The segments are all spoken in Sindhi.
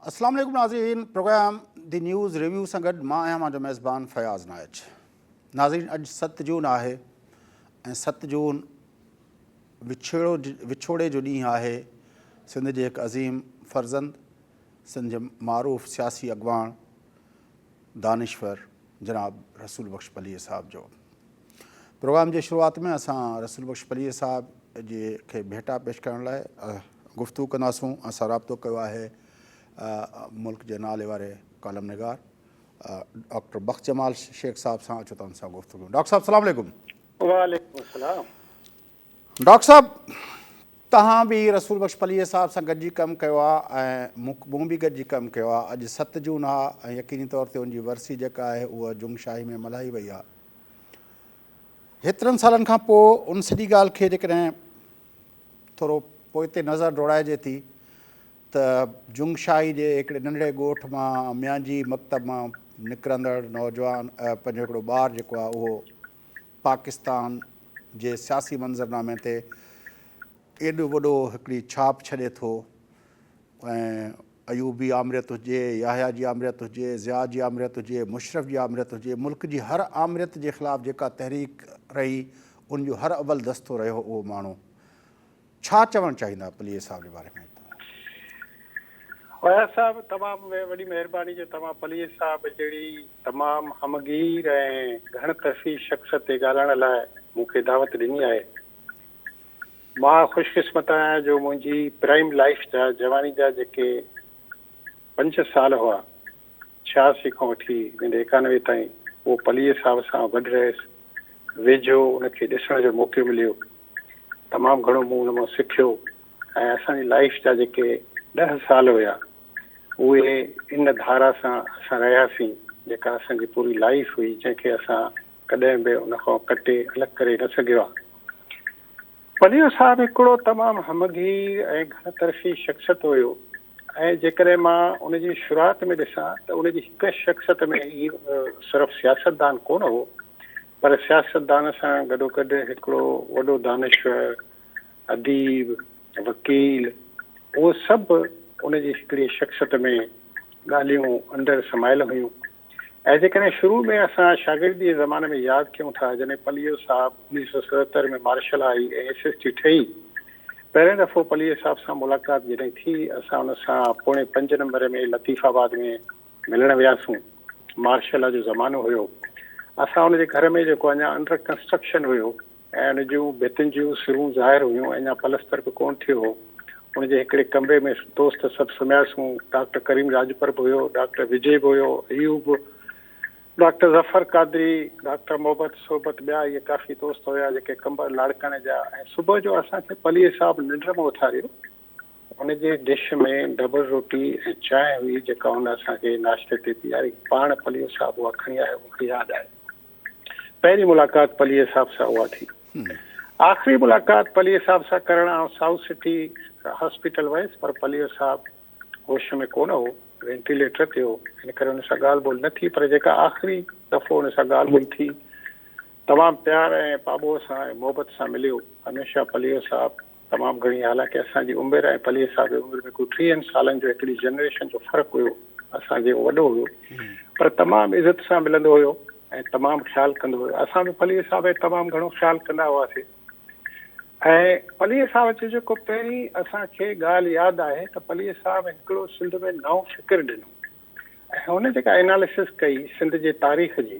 السلام عليڪم ناظرين پروگرام دي نيوز ريويو سان گڏ مان آهيان مانجو ميزبان فياض نائچ ناظرين اڄ ست جون آهي ۽ ست جون وڇوڙو وڇوڙي جو ڏينهن آهي سنڌ جي هڪ عظيم فرزند سنڌ جي معروف سياسي اڳواڻ دانشور جناب رسول بخش پليجي صاحب جو پروگرام جي شروعات ۾ اسان رسول بخش پليجي صاحب جي کي ڀيٽا پيش ڪرڻ لاء گفتگو ڪنداسون اسان رابطو ڪيو آهي ملڪ جي نالي واري ڪالم نگار ڊاڪٽر بخش جمال شيخ صاحب سان اچو تان سان گفتگو ڊاڪٽر صاحب السلام علیکم وعليکم السلام ڊاڪٽر صاحب توهان به رسول بخش پليجي صاحب سان گڏجي ڪم ڪيو آ ۽ مون به گڏجي ڪم ڪيو آ اڄ ست جون آ ۽ يقيني طور تي ان جي ورسي جيڪا آهي اها جنگ شاهي ۾ ملهائي وئي آ هيترن سالن کان پوء ان سڄي ڳالهه کي جيڪڏهن ٿورو پوئتي نظر ڊوڙائجي ٿي ته جنگ شاهي جي هڪڙي ننڍڙي ڳوٺ مان ميانجي مڪتب مان نڪرندڙ نوجوان پنهنجو هڪڙو ٻار جيڪو آ اهو پاڪستان جي سياسي منظرنامي تي ايڏو وڏو هڪڙي ڇاپ ڇڏي ٿو ۽ ايوبي آمريت هجي، يحيٰ جي آمريت هجي، ضياء جي آمريت هجي، مشرف جي آمريت هجي، ملڪ جي هر آمريت جي خلاف جيڪا تحريڪ رهي ان جو هر اول دستو رهيو اهو ماڻهو. ڇا چوڻ چاهيندا پليجي صاحب جي باري ۾ تون. اياز صاحب تمام وڏي مهرباني جو توهان پليجي صاحب جهڙي تمام همگير ۽ گهڻ طرفي شخص تي ڳالهائڻ لاء مون کي دعوت ڏني آهي مان خوش قسمت آهيان جو منهنجي پرائم لائيف جا جواني جا جيڪي پنج ڇهه سال هئا ڇياسي کان وٺي ويندي ايڪانوي تائين اهو پليجي صاحب سان گڏ رهيس ويجهو ان کي ڏسڻ جو موقعو مليو تمام گهڻو مون ان مان سکيو ۽ اسان جي لائيف جا جيڪي ڏهه سال هيا اهي ان ڌارا سان اسان رهياسين جيڪا اسان جي پوري لائيف هئي جنهن کي اسان ڪڏهن به ان کان ڪٽي الڳ ڪري نه سگهيا. پليو صاحب هڪڙو تمام همگير ۽ گهڻ طرفي شخصيت هيو. ۽ جيڪڏهن مان ان جي شروعات ۾ ڏسان ته ان جي هڪ شخصيت ۾ ئي صرف سياستدان ڪونه هو پر سياستدان سان گڏوگڏ هڪڙو وڏو دانشور، اديب، وڪيل اهو سڀ ان جي هڪڙي شخصيت ۾ ڳالهيون اندر سمايل هيون. ۽ جيڪڏهن شروع ۾ اسان شاگردي جي زماني ۾ ياد ڪيون ٿا جڏهن پليو صاحب انيس سئو ستهتر ۾ مارشل آئي ۽ ايس ايس ٽي ٺهي پهرين دفعو پليو صاحب سان ملاقات جڏهن ٿي اسان ان سان پوڻي پنج نمبر ۾ لطيف آباد ۾ ملڻ وياسون مارشل جو زمانو هيو اسان ان جي گهر ۾ جيڪو اڃا انڊر ڪنسٽرڪشن هيو ۽ ان جون ڀتين جون سرون ظاهر هيون، اڃا پلستر به ڪونه ٿيو هو. ان جي هڪڙي ڪمري ۾ دوست سڀ سمهياسون. ڊاڪٽر ڪريم راڄپر به هيو، ڊاڪٽر وجي به هيو، ايوب، ڊاڪٽر ظفر قادري، ڊاڪٽر محبت، صحبت ٻيا اهي ڪافي دوست هيا جيڪي ڪمبر لاڙڪاڻي جا ۽ صبح جو اسان کي پليجي صاحب ننڊ مان اٿاريو. ان جي ڊش ۾ ڊبل روٽي ۽ چانهه هئي جيڪا هن اسان کي ناشتي تي پياري. پاڻ پليجي صاحب اها کڻي آيو، مون کي ياد آهي. پهرين ملاقات پليجي صاحب سان اها ٿي. آخري ملاقات پليجي صاحب سان ڪرڻ آئون سائوٿ سٽي هاسپيٽل ويس پر پليجو صاحب هوش ۾ ڪونه هو، وينٽيليٽر تي هو، ان ڪري هن سان ڳالهه ٻولهه نه ٿي پر جيڪا آخري دفعو هن سان ڳالهه ٻولهه ٿي تمام پيار ۽ پاٻوهه سان ۽ محبت سان مليو. هميشه پليجو صاحب تمام گهڻي حالانڪه اسان جي عمر ۽ پليء صاحب جي عمر ۾ ڪو ٽيهن سالن جو هڪڙي جنريشن جو فرق هيو اسان جي وڏو هيو پر تمام عزت سان ملندو هيو ۽ تمام خيال ڪندو هيو اسان به پليء صاحب ۽ تمام گهڻو خيال ڪندا هئاسي ۽ پليء صاحب جو جيڪو پهرين اسان کي ڳالهه ياد آهي ته پليء صاحب هڪڙو سنڌ ۾ نئون فڪر ڏنو ۽ هن جيڪا اناليسز ڪئي سنڌ جي تاريخ جي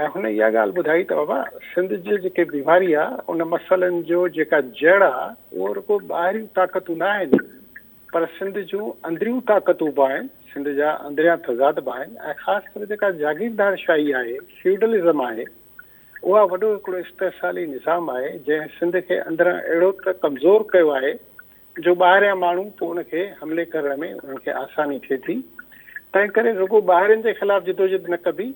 ۽ هن اها ڳالهه ٻڌائي ته بابا سنڌ جي جيڪي بيماري آ ان مسئلن جو جيڪا جڙ آ اهو رڳو ٻاهريون طاقتون نه آهن پر سنڌ جون اندريون طاقتون به آهن سنڌ جا اندريان تضاد به آهن ۽ خاص ڪري جيڪا جاگيردار شاهي آهي فيوڊلزم آهي اها وڏو هڪڙو استحصالي نظام آهي جنهن سنڌ کي اندران اهڙو ته ڪمزور ڪيو آهي جو ٻاهريان ماڻهو پوء ان کي حملي ڪرڻ ۾ انهن کي آساني ٿئي ٿي تنهنڪري رڳو ٻاهرين جي خلاف جدوجهد نه ڪبي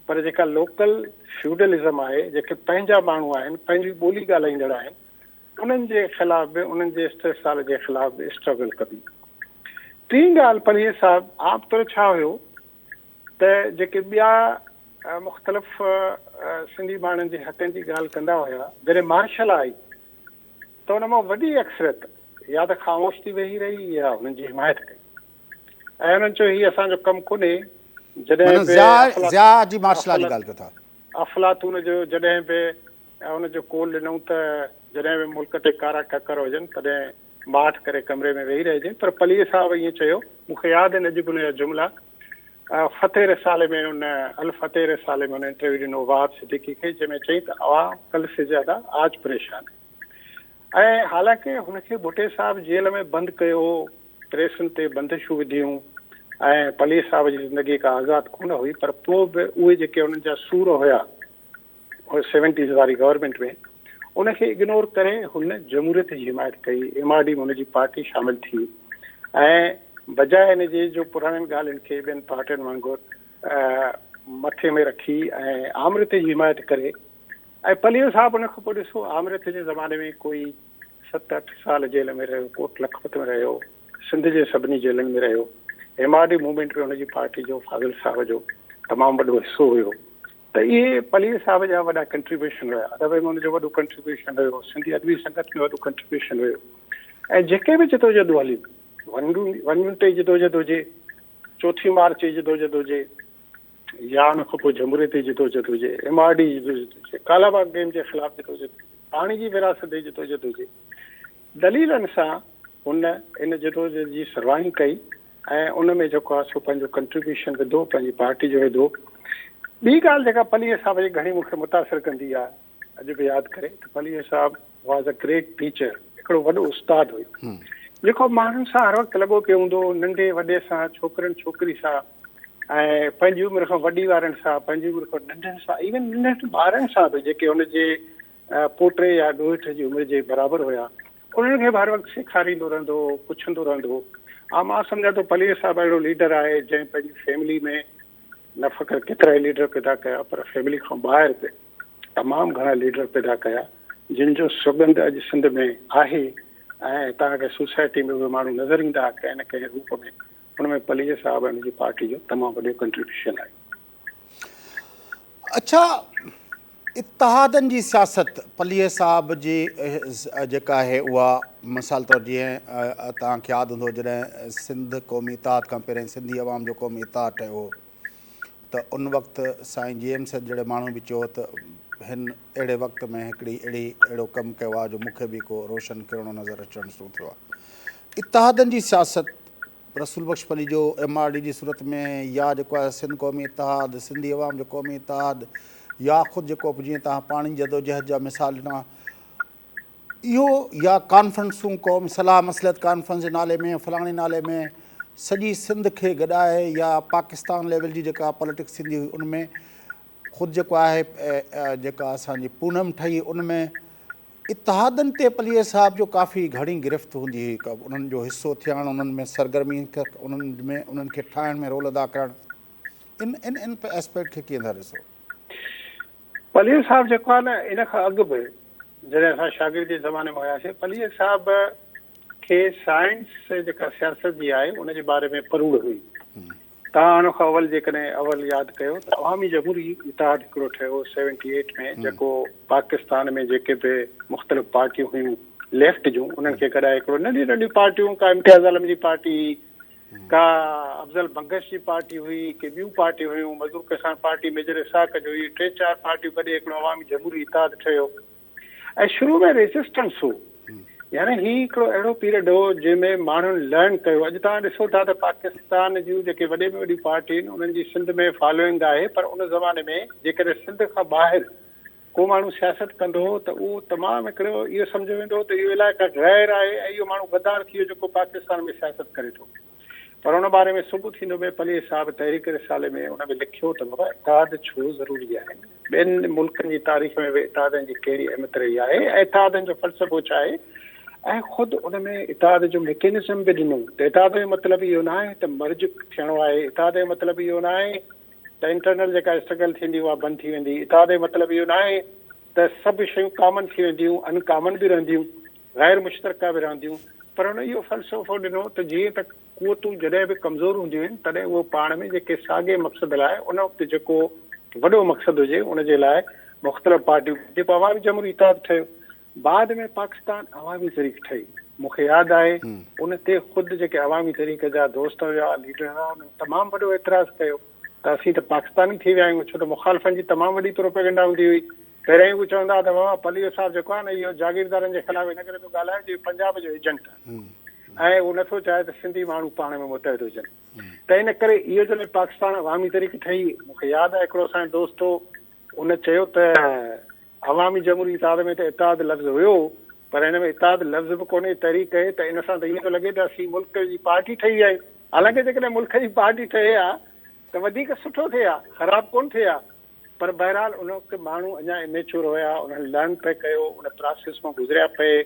پر جيڪا لوڪل فيوڊلزم آهي جيڪي پنهنجا ماڻهو آهن پنهنجي ٻولي ڳالهائيندڙ آهن انهن جي خلاف به انهن جي استحصال جي خلاف به اسٽرگل ڪبي ٽين ڳالهه پرهيز صاحب عام طور ڇا هيو ته جيڪي ٻيا مختلف سنڌي ماڻهن جي حقن جي ڳالهه ڪندا هيا جڏهن مارشل آئي ته ان مان وڏي اڪثريت يا ته خاموش ٿي ويهي رهي يا هنن جي حمايت ڪئي ۽ هنن چيو هي اسان جو ڪم ڪونهي جڏهن به افلاطون جو جڏهن به ان جو قول ڏنئون ته جڏهن به ملڪ تي ڪارا ڪڪر هجن تڏهن ماٺ ڪري ڪمري ۾ ويهي رهجي پر پليء صاحب ائين چيو مون کي ياد آهن اڄ به ان جا جملا فتح رسالي ۾ ان الفتح رسالي ۾ ان انٽرويو ڏنو وهاب صديقي کي جنهن ۾ چئي ته عوام ڪل سي زياده آج پريشان هي ۽ حالانڪه هن کي ڀٽي صاحب جيل ۾ بند ڪيو هو، پريسن تي بندشون وڌيون ۽ پليء صاحب جي زندگي ڪا آزاد ڪونه هئي پر پوء به اهي جيڪي انهن جا سور هيا سيونٽيز واري گورنمينٽ ۾ ان کي اگنور ڪري هن جمهوريت جي حمايت ڪئي، ايم آر ڊي ۾ هن جي پارٽي شامل ٿي ۽ بجاء ان جي جو پراڻين ڳالهين کي ٻين پارٽين وانگر مٿي ۾ رکي ۽ آمريت جي حمايت ڪري، ۽ پليو صاحب ان کان پوء ڏسو آمريت جي زماني ۾ ڪوئي ست اٺ سال جيل ۾ رهيو، ڪوٽ لکپت ۾ رهيو، سنڌ جي سڀني جيلن ۾ رهيو. ايم آر ڊي موومينٽ ۾ ان جي پارٽي جو فاضل صاحب جو تمام وڏو حصو هيو ته اهي پليو صاحب جا وڏا ڪنٽريبيوشن هيا. ادب ۾ ان جو وڏو ڪنٽريبيوشن هيو، سنڌي ادبي سنگت ۾ وڏو ڪنٽريبيوشن هيو ۽ جيڪي به جدوجهدون هليون ون ون ٽي جدوجهد هجي، چوٿين مارچ جي جدوجھد هجي يا ان کان پوء جھموريت جي جدوجھد هجي، ايم آر ڊي جي جدوجھد هجي، ڪالا باغ ڊيم جي خلاف جدوجھد هجي، پاڻي جي ورهاست جي جدوجھد هجي، دليلن سان هن ان جدوجھد جي سرواهين ڪئي ۽ ان ۾ جيڪو آهي سو پنهنجو ڪنٽريبيوشن وڌو، پنهنجي پارٽي جو وڌو. ٻي ڳالهه جيڪا پليجي صاحب جي گھڻي مون کي متاثر ڪندي آهي، اڄ به ياد ڪري ته پليجي صاحب واز ا گريٽ ٽيچر هڪڙو وڏو استاد هئي جيڪو ماڻهن سان هر وقت لڳو پيو هوندو هو ننڍي وڏي سان ڇوڪرن ڇوڪري سان ۽ پنهنجي عمر کان وڏي وارن سان پنهنجي عمر کان ننڍن سان ايون ننڍن ٻارن سان به جيڪي هن جي پوٽي يا ڏوهيٺ جي عمر جي برابر هيا انهن کي به هر وقت سيکاريندو رهندو هو پڇندو رهندو هو مان سمجهان ٿو پليجي صاحب اهڙو ليڊر آهي جنهن پنهنجي فيملي ۾ نه فقط ڪيترائي ليڊر پيدا ڪيا پر فيملي کان ٻاهر به تمام گهڻا ليڊر پيدا ڪيا جن جو سڳنڌ اڄ سنڌ ۾ آهي ۽ هتان کي سوسائٽي ۾ به ماڻهو نظر ايندا ڪنهن نه ڪنهن روپ ۾ ان ۾ پليجي صاحب ۽ ان جي پارٽي جو تمام وڏو ڪنٽريبيوشن آهي. اڇا اتحادن جي سياست پليجي صاحب جي جيڪا آهي اها مثال طور جيئن توهان کي ياد هوندو جڏهن سنڌ قومي اتحاد کان پهرين سنڌي عوام جو قومي اتحاد ٺهيو هو ته ان وقت سائين جي ايم سيد جهڙي ماڻهو به چيو هو ته هن اهڙي وقت ۾ هڪڙي اهڙي اهڙو ڪم ڪيو آهي جو مون کي به ڪو روشن ڪرڻو نظر اچڻ شروع ٿيو آهي اتحادن جي سياست رسول Bakhsh Palijo M R D جي صورت ۾ يا جيڪو آهي سنڌ قومي اتحاد، سنڌي عوام جو قومي اتحاد يا خود جيڪو به جيئن توهان پاڻي جي جدوجهد جا مثال ڏنا اهو يا ڪانفرنسون قومي صلاح مصلحت ڪانفرنس جي نالي ۾ فلاڻي نالي ۾ سڄي سنڌ کي گڏائي يا پاڪستان ليول جي جيڪا پاليٽڪس ٿيندي هئي ان ۾ خود جيڪو آهي جيڪا اسان جي پونم ٺهي ان ۾ اتحادن تي پليجي صاحب جو ڪافي گهڻي گرفت هوندي هئي، انهن جو حصو ٿيڻ، انهن ۾ سرگرمي، انهن ۾ انهن کي ٺاهڻ ۾ رول ادا ڪرڻ، ان ان ان اسپيڪٽ کي ڪيئن ٿا ڏسو؟ پليجي صاحب جيڪو آهي نه ان کان اڳ به جڏهن اسان شاگردي زماني ۾ هياسين، پليجي صاحب کي سائنس جيڪا سياست جي آهي ان جي باري ۾ پروڙ هئي. تان آڻو کان اول جيڪڏهن اول ياد ڪيو ته عوامي جمهوري اتحاد هڪڙو ٺهيو سيونٽي ايٽ ۾ جيڪو پاڪستان ۾ جيڪي به مختلف پارٽيون هيون ليفٽ جون انهن کي گڏائي هڪڙو ننڍيون ننڍيون پارٽيون ڪا امتياز عالم جي پارٽي هئي ڪا افضل بنگش جي پارٽي هئي ڪي ٻيون پارٽيون هيون مزور ڪسان پارٽي ميجر اسحاق جو هئي ٽي چار پارٽيون گڏي هڪڙو عوامي جمهوري اتحاد ٺهيو ۽ شروع ۾ ريزسٽنس هو يعني هي هڪڙو اهڙو پيريڊ هو جنهن ۾ ماڻهن لرن ڪيو اڄ توهان ڏسو ٿا ته پاڪستان جون جيڪي وڏي ۾ وڏيون پارٽيون آهن انهن جي سنڌ ۾ فالوئنگ آهي پر ان زماني ۾ جيڪڏهن سنڌ کان ٻاهر ڪو ماڻهو سياست ڪندو هو ته اهو تمام هڪڙو اهو سمجهيو ويندو هو ته اهو علائقه غير آهي ۽ اهو ماڻهو غدار ٿي ويو جيڪو پاڪستان ۾ سياست ڪري ٿو پر ان باري ۾ سگهه ٿيندو به پليجي صاحب تحريڪ رسالي ۾ ان به لکيو ته بابا اتحاد ڇو ضروري آهي؟ ٻين ملڪن جي تاريخ ۾ به اتحادن جي ڪهڙي اهميت رهي آهي ۽ اتحادن جو فلسفو ڇا آهي؟ ۽ خود ان ۾ اتحاد جو ميڪينزم به ڏنو ته اتحاد جو مطلب اهو نه آهي ته مرج ٿيڻو آهي، اتحاد جو مطلب اهو نه آهي ته انٽرنل جيڪا اسٽرگل ٿيندي اها بند ٿي ويندي، اتحاد جو مطلب اهو نه آهي ته سڀ شيون ڪامن ٿي وينديون ان ڪامن به رهنديون. غير مشترڪه به رهنديون پر هن اهو فلسفو ڏنو ته جيئن ته قوتون جڏهن به ڪمزور هونديون آهن تڏهن اهو پاڻ ۾ جيڪي ساڳئي مقصد لاء ان وقت جيڪو وڏو مقصد هجي ان جي لاء مختلف پارٽيون جيڪو عوامي جمهوري اتحاد ٺهيو بعد ۾ پاڪستان عوامي تحريڪ ٺهي مون کي ياد آهي ان تي خود جيڪي عوامي تحريڪ جا دوست هيا ليڊر هيا انهن تمام وڏو اعتراض ڪيو ته اسين ته پاڪستاني ٿي ويا آهيون ڇو ته مخالفن جي تمام وڏي پروپيگنڊا هوندي هئي پهريائين هو چوندا ته بابا پليو صاحب جيڪو آهي نه اهو جاگيردارن جي خلاف ان ڪري ٿو ڳالهائي جو پنجاب جو ايجنٽ آهي ۽ هو نٿو چاهي ته سنڌي ماڻهو پاڻ ۾ متحد هجن ته ان ڪري اهو جڏهن پاڪستان عوامي تحريڪ ٺهي مون کي ياد آهي هڪڙو اسان جو دوست هو ان چيو ته عوامي جمهوري اتحاد ۾ ته اتحاد لفظ هيو پر هن ۾ اتحاد لفظ به ڪونهي تحريڪ هي ته ان سان ته ائين ٿو لڳي ته اسين ملڪ جي پارٽي ٺهي ويا آهيون حالانڪه جيڪڏهن ملڪ جي پارٽي ٺهي ها ته وڌيڪ سٺو ٿئي ها خراب ڪونه ٿئي ها پر بهرحال ان وقت ماڻهو اڃا اميچور هيا، انهن لرن پئي ڪيو، ان پراسيس مان گذريا پئي،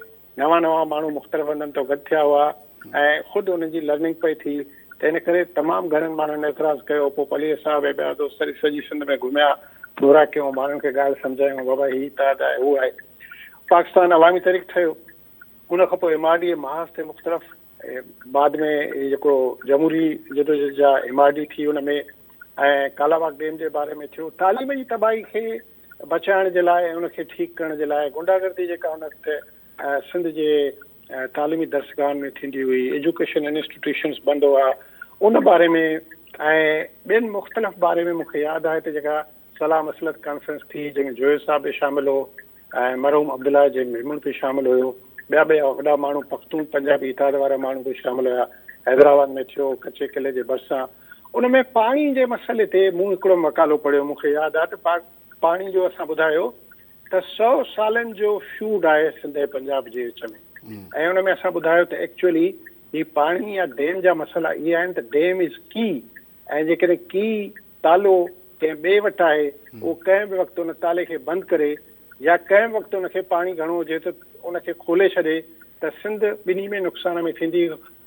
نوان نوان ماڻهو مختلف هنڌن تان گڏ ٿيا هئا ۽ خود انهن جي لرننگ پئي ٿي ته ان ڪري تمام گهڻن ماڻهن اعتراض ڪيو، پوء پليجي صاحب ۽ ٻيا دوست هلي سڄي سنڌ ۾ گهميا، دورا ڪيون، ماڻهن کي ڳالهه سمجهايون، بابا هي اتحاد آهي، هو آهي، پاڪستان عوامي تحريڪ ٺهيو، ان کان پوء ايم آر ڊي اي محاذ تي مختلف. بعد ۾ هي جيڪو جمهوري جدوجهد جا ايم آر ڊي ٿي ان ۾ ۽ ڪالاباغ ڊيم جي باري ۾ ٿيو تعليم جي تباهي کي بچائڻ جي لاء ان کي ٺيڪ ڪرڻ جي لاء غنڊا گردي جيڪا ان وقت سنڌ جي تعليمي درسگاهن ۾ ٿيندي هئي ايجوڪيشن انسٽيٽيوشنس بند هئا ان باري ۾ ۽ ٻين مختلف باري ۾ مونکي ياد آهي ته جيڪا صلاح مصلحت ڪانفرنس ٿي جنهن ۾ جويي صاحب به شامل هو ۽ مرحوم عبدالله جي ميمڻ به شامل هيو ٻيا به وڏا ماڻهو پختون پنجابي اتحاد وارا ماڻهو به شامل هيا حيدرآباد ۾ ٿيو ڪچي قلعي جي ڀرسان ان ۾ پاڻي جي مسئلي تي مون هڪڙو مقالو پڙهيو مون کي ياد آ ته پاڪ پاڻي جو اسان ٻڌايو ته سؤ سالن جو فيوڊ آهي سنڌ ۽ پنجاب جي وچ ۾ ۽ ان ۾ اسان ٻڌايو ته ايڪچولي هي پاڻي يا ڊيم جا مسئلا اهي آهن ته ڊيم از ڪي ۽ جيڪڏهن ڪي، تالو، ڪنهن ٻئي وٽ آهي، اهو ڪنهن به وقت ان تالي کي بند ڪري يا ڪنهن به وقت ان کي پاڻي گهڻو هجي ته ان کي کولي ڇڏي ته سنڌ ٻنهي ۾ نقصان ۾ ٿيندي،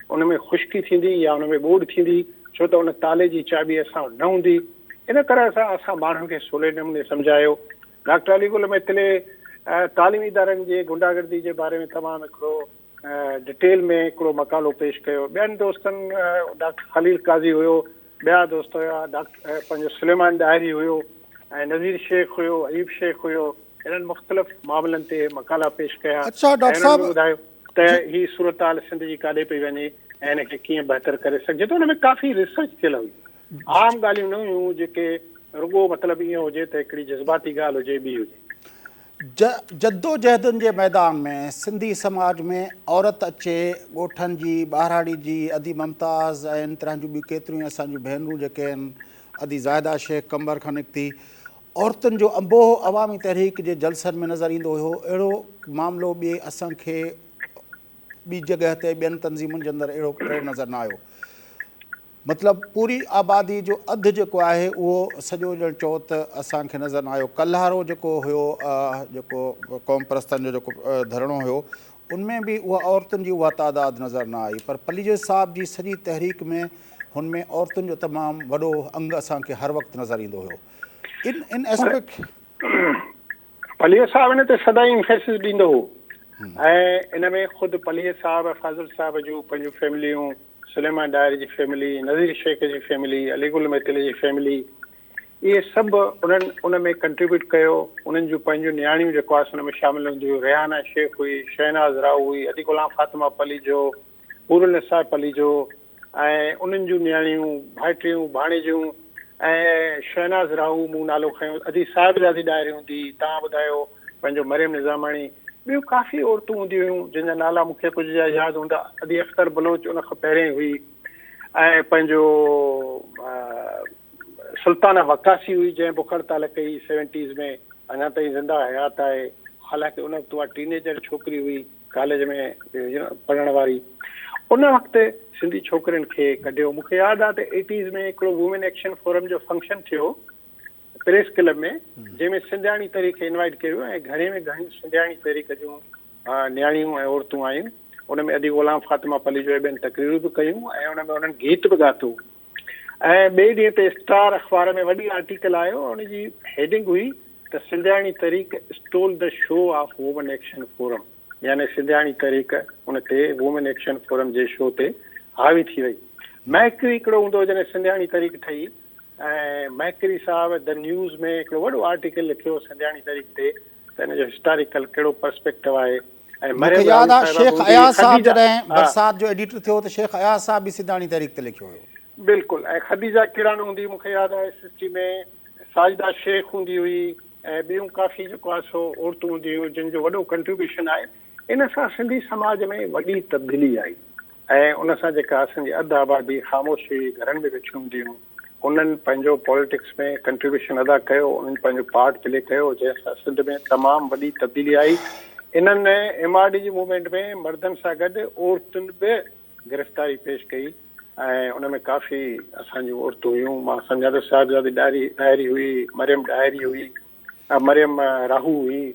ان ۾ خشڪي ٿيندي يا ان ۾ ٻوڏ ٿيندي، ڇو ته ان تالي جي چاٻي اسان وٽ نه هوندي. ان طرح سان اسان ماڻهن کي سولي نموني سمجهايو. ڊاڪٽر علي گل ميتلي تعليمي ادارن جي غنڊا گردي جي باري ۾ تمام هڪڙو ڊٽيل ۾ هڪڙو مقالو پيش ڪيو. ٻين دوستن ڊاڪٽر خليل قاضي هيو، ٻيا دوست هيا ڊاڪٽر پنهنجو سليمان ڏاهري هيو ۽ نذير شيخ هيو، ايوب شيخ هيو، هنن مختلف معاملن تي مقالا پيش ڪيا ۽ هنن به ٻڌايو ته هي صورتحال سنڌ جي ڪاڏي پئي وڃي ۽ هن کي ڪيئن بهتر ڪري سگهجي ٿو، ان ۾ ڪافي ريسرچ ٿيل هئي. عام ڳالهيون نه هيون جيڪي رڳو مطلب ائين هجي ته هڪڙي جذباتي ڳالهه هجي ٻي هجي. جدوجهدن جي ميدان ۾ سنڌي سماج ۾ عورت اچي ڳوٺن جي ٻاهراڙي جي ادي ممتاز ۽ ان طرح جون ٻيون ڪيتريون ئي اسان جون ڀينرون جيڪي آهن ادي زاهده شيخ قمبر کان نڪتي عورتن جو انبوهه عوامي تحريڪ جي جلسن ۾ نظر ايندو هيو اهڙو معاملو ٻي اسان کي ٻي جڳهه تي ٻين تنظيمن جي اندر اهڙو اهڙو نظر نه آيو. مطلب پوري آبادي جو اڌ جيڪو آهي اهو سڄو ڄڻ چئو ته اسان کي نظر نه آيو. ڪلهارو جيڪو هيو جيڪو قومپرستن جو جيڪو ڌرڻو هيو ان ۾ به اها عورتن جي اها تعداد نظر نه آئي پر پليجو صاحب جي سڄي تحريڪ ۾ هن ۾ عورتن جو تمام وڏو انگ اسان کي هر وقت نظر ايندو هيو ان ان اسپيڪ پليجر صاحب ان تي سدائين امفيسس ڏيندو هو ۽ ان ۾ خود پليجر صاحب فاضل صاحب جون پنهنجون فيمليون سليمان ڏاهر جي فيملي نذير شيخ جي فيملي علي گل ميتل جي فيملي اهي سڀ انهن ان ۾ ڪنٽريبيوٽ ڪيو انهن جون پنهنجون نياڻيون جيڪو آسن ۾ شامل هونديون ريحانا شيخ هئي شهناز راهو هئي علي غلام فاطمه پليجو حور النساء پليجو ۽ انهن جون نياڻيون، ڀائٽيون، ڀاڻيجيون ۽ شهناز راهو مون نالو کنيو، ادي صاحبزادي ڏاهري هوندي هئي، تان ٻڌايو پنهنجو مريم نظاماڻي، ٻيون ڪافي عورتون هونديون هيون، جن جا نالا مون کي ڪجهه جا ياد هوندا، ادي اختر بلوچ ان کان پهرين هئي ۽ پنهنجو سلطانه وقاصي هئي، جنهن بک هڙتال ڪئي سيونٽيز ۾، اڃا تائين زنده حيات آهي، حالانڪه ان وقت اها ٽين ايجر ڇوڪري هئي. ڪاليج ۾ پڙهڻ واري ان وقت سنڌي ڇوڪرين کي ڪڍيو مونکي ياد آ ته ايٽيز ۾ هڪڙو وومين ايڪشن فورم جو فنڪشن ٿيو پريس ڪلب ۾ جنهن ۾ سنڌياڻي تحريڪ کي انوائيٽ ڪيو ويو ۽ گهڻي ۾ گهڻي سنڌياڻي تحريڪ جون نياڻيون ۽ عورتون آيون ان ۾ ادي غلام فاطمه پليجو ٻين تقريرون به ڪيون ۽ ان ۾ انهن گيت به ڳاتو ۽ ٻئي ڏينهن تي اسٽار اخبار ۾ وڏي آرٽيڪل آيو ۽ ان جي هيڊنگ هئي ته سنڌياڻي تحريڪ stole the show of women action forum يعني سنڌياڻي تحريڪ ان تي وومن ايڪشن فورم جي شو تي حاوي ٿي وئي مهڪري هڪڙو هوندو هو جڏهن سنڌياڻي تحريڪ ٺهي ۽ مهڪري صاحب دي نيوز ۾ هڪڙو وڏو آرٽيڪل لکيو سنڌياڻي تحريڪ تي ته ان جو هسٽاريڪل ڪهڙو پرسپيڪٽو آهي ۽ مريم راڻي صاحبه هوندي خديجه. مون کي ياد آهي شيخ اياز صاحب جڏهن برسات جو ايڊيٽر ٿيو ته شيخ اياز صاحب به سيداڻي تحريڪ تي لکيو هيو. بلڪل ۽ خديجه ڪيڙاڻ هوندي مون کي ياد آهي S S T ۾ Sajida Shaikh هوندي هئي ۽ ٻيون ڪافي جيڪو آهي سو عورتون هوندي هيون جن جو وڏو ڪنٽريبيوشن آهي ان سان سنڌي سماج ۾ وڏي تبديلي آئي ۽ ان سان جيڪا اسان جي اڌ آبادي خاموش هئي گهرن ۾ ويٺيون هونديون هيون انهن پنهنجو پاليٽڪس ۾ ڪنٽريبيوشن ادا ڪيو، انهن پنهنجو پارٽ پلي ڪيو جنهن سان سنڌ ۾ تمام وڏي تبديلي آئي. انهن ايم آر ڊي جي موومينٽ ۾ مردن سان گڏ عورتن به گرفتاري پيش ڪئي ۽ ان ۾ ڪافي اسان جون عورتون هيون، مان سمجهان ٿو صاحبزادي ڏاهري هئي، مريم ڏاهري هئي، مريم راهو هئي.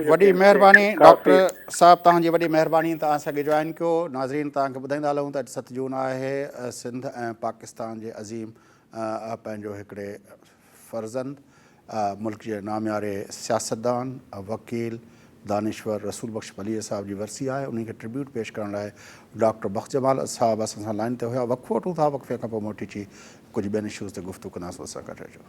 وڏي مهرباني ڊاڪٽر صاحب توهان جي وڏي مهرباني ته اسان کي جوائن ڪيو ناظرين توهان کي ٻڌائيندا هلون ته اڄ ست جون آهي سنڌ ۽ پاڪستان جي عظيم پنهنجو هڪڙي فرزند ملڪ جي نامياري سياستدان وڪيل دانشور رسول بخش پليجي صاحب جي ورسي آهي انهي کي ٽربيوٽ پيش ڪرڻ لاء ڊاڪٽر بخش جمال صاحب اسان سان لائن تي هيا وقفو وٺون ٿا وقفي کان پوء موٽي چي ڪجهه ٻين اشوز تي گفتگو ڪنداسون اسان گڏ رهجو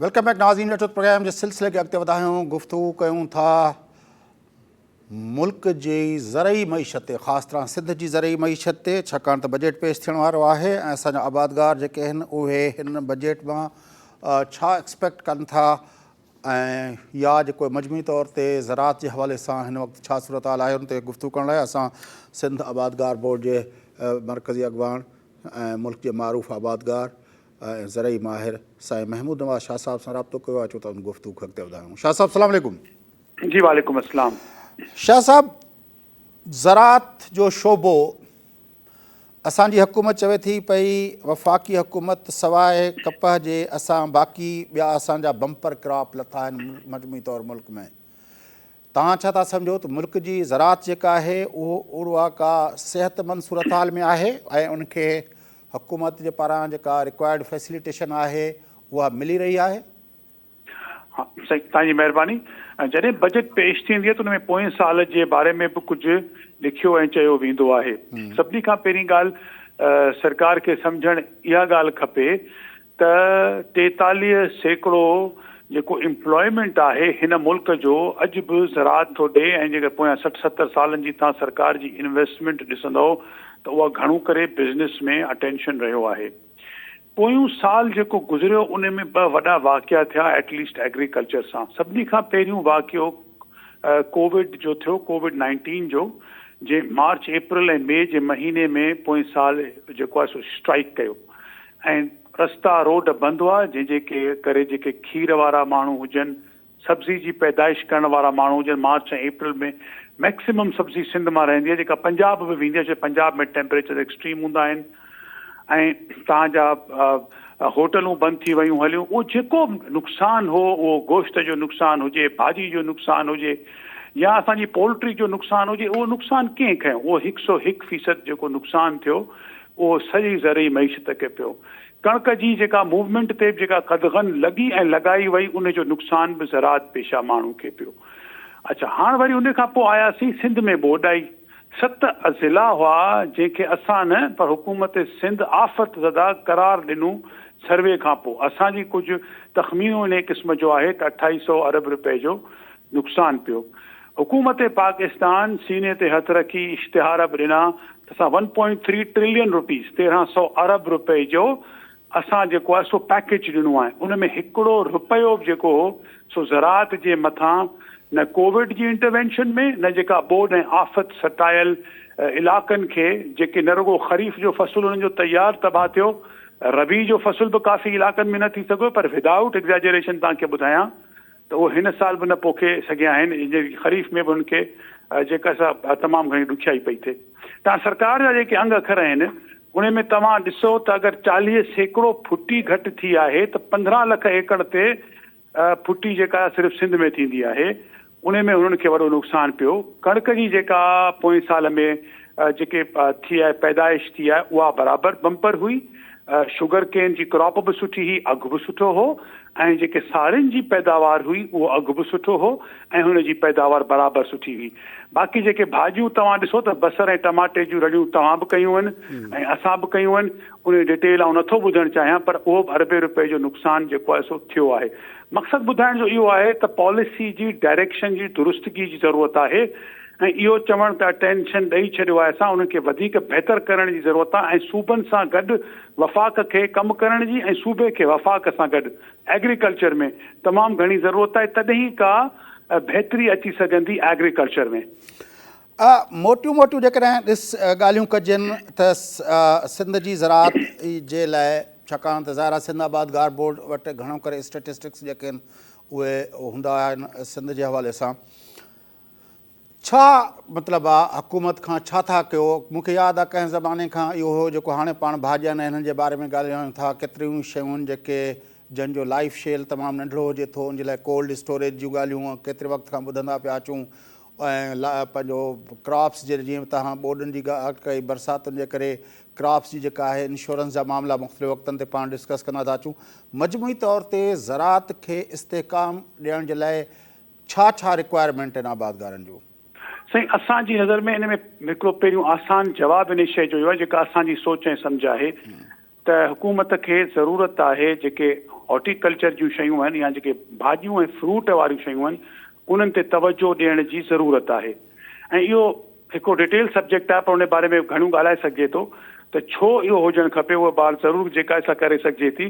ويلڪم بيڪ ناظرين ليٽوت پروگرام جي سلسلي کي اڳتي وڌايون گفتگو ڪيون ٿا ملڪ جي زرعي معيشت تي خاص طرح سنڌ جي زرعي معيشت تي ڇاڪاڻ ته بجيٽ پيش ٿيڻ وارو آهي ۽ اسان جا آبادگار جيڪي آهن اهي هن بجيٽ مان ڇا ايڪسپيڪٽ ڪن ٿا ۽ يا جيڪو مجموعي طور تي زراعت جي حوالي سان هن وقت ڇا صورتحال آهي ان تي گفتگو ڪرڻ لاء اسان سنڌ آبادگار بورڊ جي مرڪزي اڳواڻ ۽ ملڪ جي معروف آبادگار ۽ زرعي ماهر سائين محمود نواز شاهه صاحب سان رابطو ڪيو آهي اچو ته ان گفتگو کي اڳتي وڌايون شاهه صاحب سلام عليڪم. جي وعليڪم السلام. شاهه صاحب زراعت جو شعبو اسان جي حڪومت چوي ٿي پئي وفاقي حڪومت سواء ڪپهه جي اسان باقي ٻيا اسان جا بمپر ڪراپ لٿا آهن مجموعي طور ملڪ ۾ توهان ڇا ٿا سمجهو ته ملڪ جي زراعت جيڪا آهي اهو اهڙوها ڪا صحتمند صورتحال ۾ آهي ۽ ان کي حڪومت جي پاران جيڪا ريڪوائرڊ فيسليٽيشن آهي اها ملي رهي آهي؟ ها سائين توهان جي مهرباني ۽ جڏهن بجيٽ پيش ٿيندي آهي ته ان ۾ پوئين سال جي باري ۾ به ڪجهه لکيو ۽ چيو ويندو آهي سڀني کان پهرين ڳالهه سرڪار کي سمجهڻ اها ڳالهه کپي ته ٽيتاليهه سيڪڙو جيڪو امپلائمينٽ آهي هن ملڪ جو اڄ به زراعت ٿو ڏئي ۽ جيڪڏهن پويان سٺ ستر سالن جي توهان سرڪار جي انويسٽمينٽ ڏسندؤ ته اها گهڻو ڪري بزنس ۾ اٽينشن رهيو آهي. پويون سال جيڪو گذريو ان ۾ ٻه وڏا واقعا ٿيا ايٽ ليسٽ ايگريڪلچر سان. سڀني کان پهريون واقعو ڪووڊ جو ٿيو ڪووڊ نائنٽين جو جنهن مارچ اپريل ۽ مئي جي مهيني ۾ پوئين سال جيڪو آهي سو اسٽرائيڪ ڪيو ۽ رستا روڊ بند هئا جنهن جي ڪري جيڪي کير وارا ماڻهو هجن سبزي جي پيدائش ڪرڻ وارا ماڻهو هجن مارچ ۽ اپريل ۾ ميڪسيمم سبزي سنڌ مان رهندي آهي جيڪا پنجاب به ويندي آهي ڇو پنجاب ۾ ٽيمپريچر ايڪسٽريم هوندا آهن ۽ تان جا هوٽلون بند ٿي ويون هليون اهو جيڪو نقصان هو اهو گوشت جو نقصان هجي ڀاڄي جو نقصان هجي يا اسان جي پولٽري جو نقصان هجي اهو نقصان ڪنهن کنيو اهو هڪ سو هڪ فيصد جيڪو نقصان ٿيو اهو سڄي زرعي معيشت کي پيو. ڪڻڪ جي جيڪا موومينٽ تي به جيڪا قدغن لڳي ۽ لڳائي وئي ان جو نقصان به زراعت پيشه ماڻهو کي پيو. اڇا هاڻ وري ان کان پوء آياسين سنڌ ۾ ٻوڏائي. ست اضلاع هئا جنهن کي اسان نه پر حڪومت سنڌ آفت زده قرار ڏنو سروي کان پوء. اسان جي ڪجهه تخمينو انهيء قسم جو آهي ته اٺائي سئو ارب رپئي جو نقصان پيو. حڪومت پاڪستان سيني تي هٿ رکي اشتهار به ڏنا اسان one point three trillion rupees, تيرهن سؤ ارب روپئي، جو اسان جيڪو آهي سو پيڪيج ڏنو آهي ان ۾ هڪڙو روپيو به جيڪو هو سو زراعت جي مٿان نه ڪووڊ جي انٽروينشن ۾ نه جيڪا ٻوڏ ۽ آفت سٽايل علاقن کي جيڪي نه رڳو خريف جو فصل انهن جو تيار تباهه ٿيو ربيع جو فصل به ڪافي علاقن ۾ نه ٿي سگهيو پر ودائوٽ ايگزيجريشن توهان کي ٻڌايان ته اهي هن سال به نه پوکي سگهيا آهن ۽ جيڪي خريف ۾ به هن کي جيڪا سا تمام گهڻي ڏکيائي پئي ٿئي. تان سرڪار جا جيڪي انگ اکر آهن انهي ۾ توهان ڏسو ته اگر چاليهه سيڪڙو ڦٽي گهٽ ٿي آهي ته پندرهن لک ايڪڙ تي ڦٽي جيڪا صرف سنڌ ۾ ٿيندي آهي انهي ۾ هنن کي وڏو نقصان پيو ڪڻڪ جي جيڪا پوئين سال ۾ جيڪي ٿي آهي پيدائش ٿي آهي اها برابر بمپر هئي شگر ڪين جي ڪراپ به سٺي هئي، اگهه به سٺو هو ۽ جيڪي ساڙين جي پيداوار هئي اهو اگهه به سٺو هو ۽ هن جي پيداوار برابر سٺي هئي. باقي جيڪي ڀاڄيون توهان ڏسو ته بصر ۽ ٽماٽي جون رڙيون توهان به ڪيون آهن ۽ اسان به ڪيون آهن ان جي ڊيٽيل آئون نٿو ٻڌڻ چاهيان پر اهو به اربين روپين جو نقصان جيڪو آهي سو ٿيو آهي. مقصد ٻڌائڻ جو اهو آهي ته پاليسي جي ڊائريڪشن جي درستگي جي ضرورت آهي. ۽ اهو چوڻ ته اٽينشن ڏئي ڇڏيو آهي سان انهن کي وڌيڪ بهتر ڪرڻ جي ضرورت آهي ۽ صوبن سان گڏ وفاق کي ڪم ڪرڻ جي ۽ صوبي کي وفاق سان گڏ ايگريڪلچر ۾ تمام گهڻي ضرورت آهي تڏهن ئي ڪا بهتري اچي سگهندي ايگريڪلچر ۾. آء موٽيون موٽيون جيڪڏهن ڏس ڳالهيون ڪجن ته سنڌ جي زراعت جي لاء ڇاڪاڻ ته ظاهر آهي سنڌ آباد گار بورڊ وٽ گهڻو ڪري اسٽيٽسٽڪس جيڪي آهن اهي هوندا آهن سنڌ جي حوالي سان ڇا مطلب آ حڪومت کان ڇا ٿا ڪيو مون کي ياد آ ڪنهن زماني کان اهو هو جيڪو هاڻي پاڻ ڀاڄين ۽ انهن جي باري ۾ ڳالهايون ٿا ڪيتريون شيون جيڪي جن جو لائف شيل تمام ننڍڙو هجي ٿو ان جي لاء ڪولڊ اسٽوريج جون ڳالهيون ڪيتري وقت کان ٻڌندا پيا اچون ۽ پنهنجو ڪراپس جي جيئن تهان ٻوڏن جي ڳالهه ڪئي برساتن جي ڪري ڪراپس جي جيڪا آهي انشورنس جا معاملا مختلف وقتن تي پاڻ ڊسڪس ڪندا ٿا اچون مجموعي طور تي زراعت کي استحڪام ڏيڻ جي لاء ڇا ڇا رڪوائرمينٽ آهن آبادگارن جون؟ سائين اسان جي نظر ۾ ان ۾ هڪڙو پهريون آسان جواب ان شئي جو اهو آهي جيڪا اسان جي سوچ ۽ سمجهه آهي ته حڪومت کي ضرورت آهي جيڪي هارٽي ڪلچر جون شيون آهن يا جيڪي ڀاڄيون ۽ فروٽ واريون شيون آهن انهن تي توجهه ڏيڻ جي ضرورت آهي ۽ اهو هڪڙو ڊيٽيل سبجيڪٽ آهي پر ان باري ۾ گهڻو ڳالهائي سگهجي ٿو ته ڇو اهو هجڻ کپي اها ٻار ضرور جيڪا سا ڪري سگهجي ٿي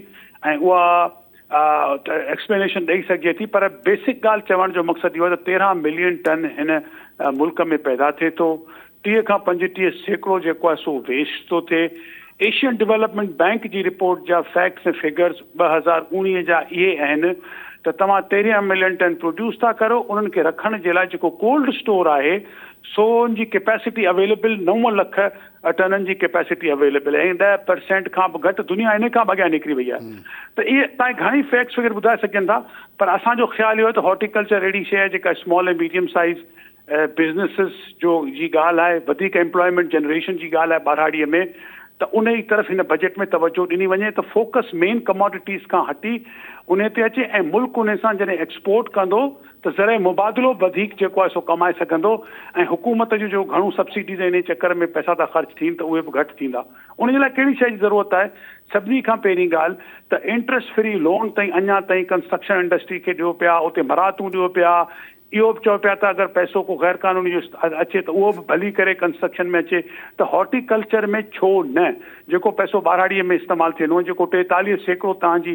۽ اها ايڪسپلينيشن ڏئي سگهجي ٿي پر بيسڪ ڳالهه چوڻ جو مقصد اهو آهي ته تيرهن ملين ٽن هن ملڪ ۾ پيدا ٿئي ٿو ٽيهه کان پنجٽيهه سيڪڙو جيڪو آهي سو ويسٽ ٿو ٿئي ايشين ڊيولپمينٽ بئنڪ جي رپورٽ جا فيڪٽس ۽ فگرز ٻه هزار اوڻيهه جا اهي آهن ته توهان تيرهن ملين ٽن پروڊيوس ٿا ڪرو انهن کي رکڻ جي لاء جيڪو ڪولڊ اسٽور آهي سو ان جي ڪيپيسٽي اويليبل نو لک اٽرنن جي ڪيپيسٽي اويليبل ۽ ڏهه پرسينٽ کان به گهٽ دنيا ان کان به اڳيان نڪري وئي آهي ته اهي تائين گهڻي فيڪس فگر ٻڌائي سگهجن ٿا پر اسان جو خيال اهو آهي ته هارٽيڪلچر اهڙي شيء آهي جيڪا اسمال ۽ ميڊيم سائيز بزنسز جو جي ڳالهه آهي وڌيڪ ايمپلائمينٽ جنريشن جي ڳالهه آهي ٻهراڙيء ۾ ته ان جي طرف هن بجيٽ ۾ توجهه ڏني وڃي ته فوڪس مين ڪماڊٽيز کان هٽي ان تي اچي ۽ ملڪ ان سان جڏهن ايڪسپورٽ ڪندو ته زرعي مبادلو به وڌيڪ جيڪو آهي سو ڪمائي سگهندو ۽ حڪومت جون جو گهڻو سبسڊيز ۽ انهيء چڪر ۾ پئسا ٿا خرچ ٿين ته اهي به گهٽ ٿيندا. ان جي لاء ڪهڙي شيء جي ضرورت آهي؟ سڀني کان پهرين ڳالهه ته انٽريسٽ فري لون تائين اڃا تائين ڪنسٽرڪشن انڊسٽري کي ڏيو پيا، اتي مراعتون ڏيو پيا، اهو به چئو پيا ته اگر پئسو ڪو غير قانوني جو اچي ته اهو به ڀلي ڪري ڪنسٽرڪشن ۾ اچي ته هارٽي ڪلچر ۾ ڇو نه جيڪو پئسو ٻاراڙيء ۾ استعمال ٿيندو ۽ جيڪو ٽيتاليهه سيڪڙو توهان جي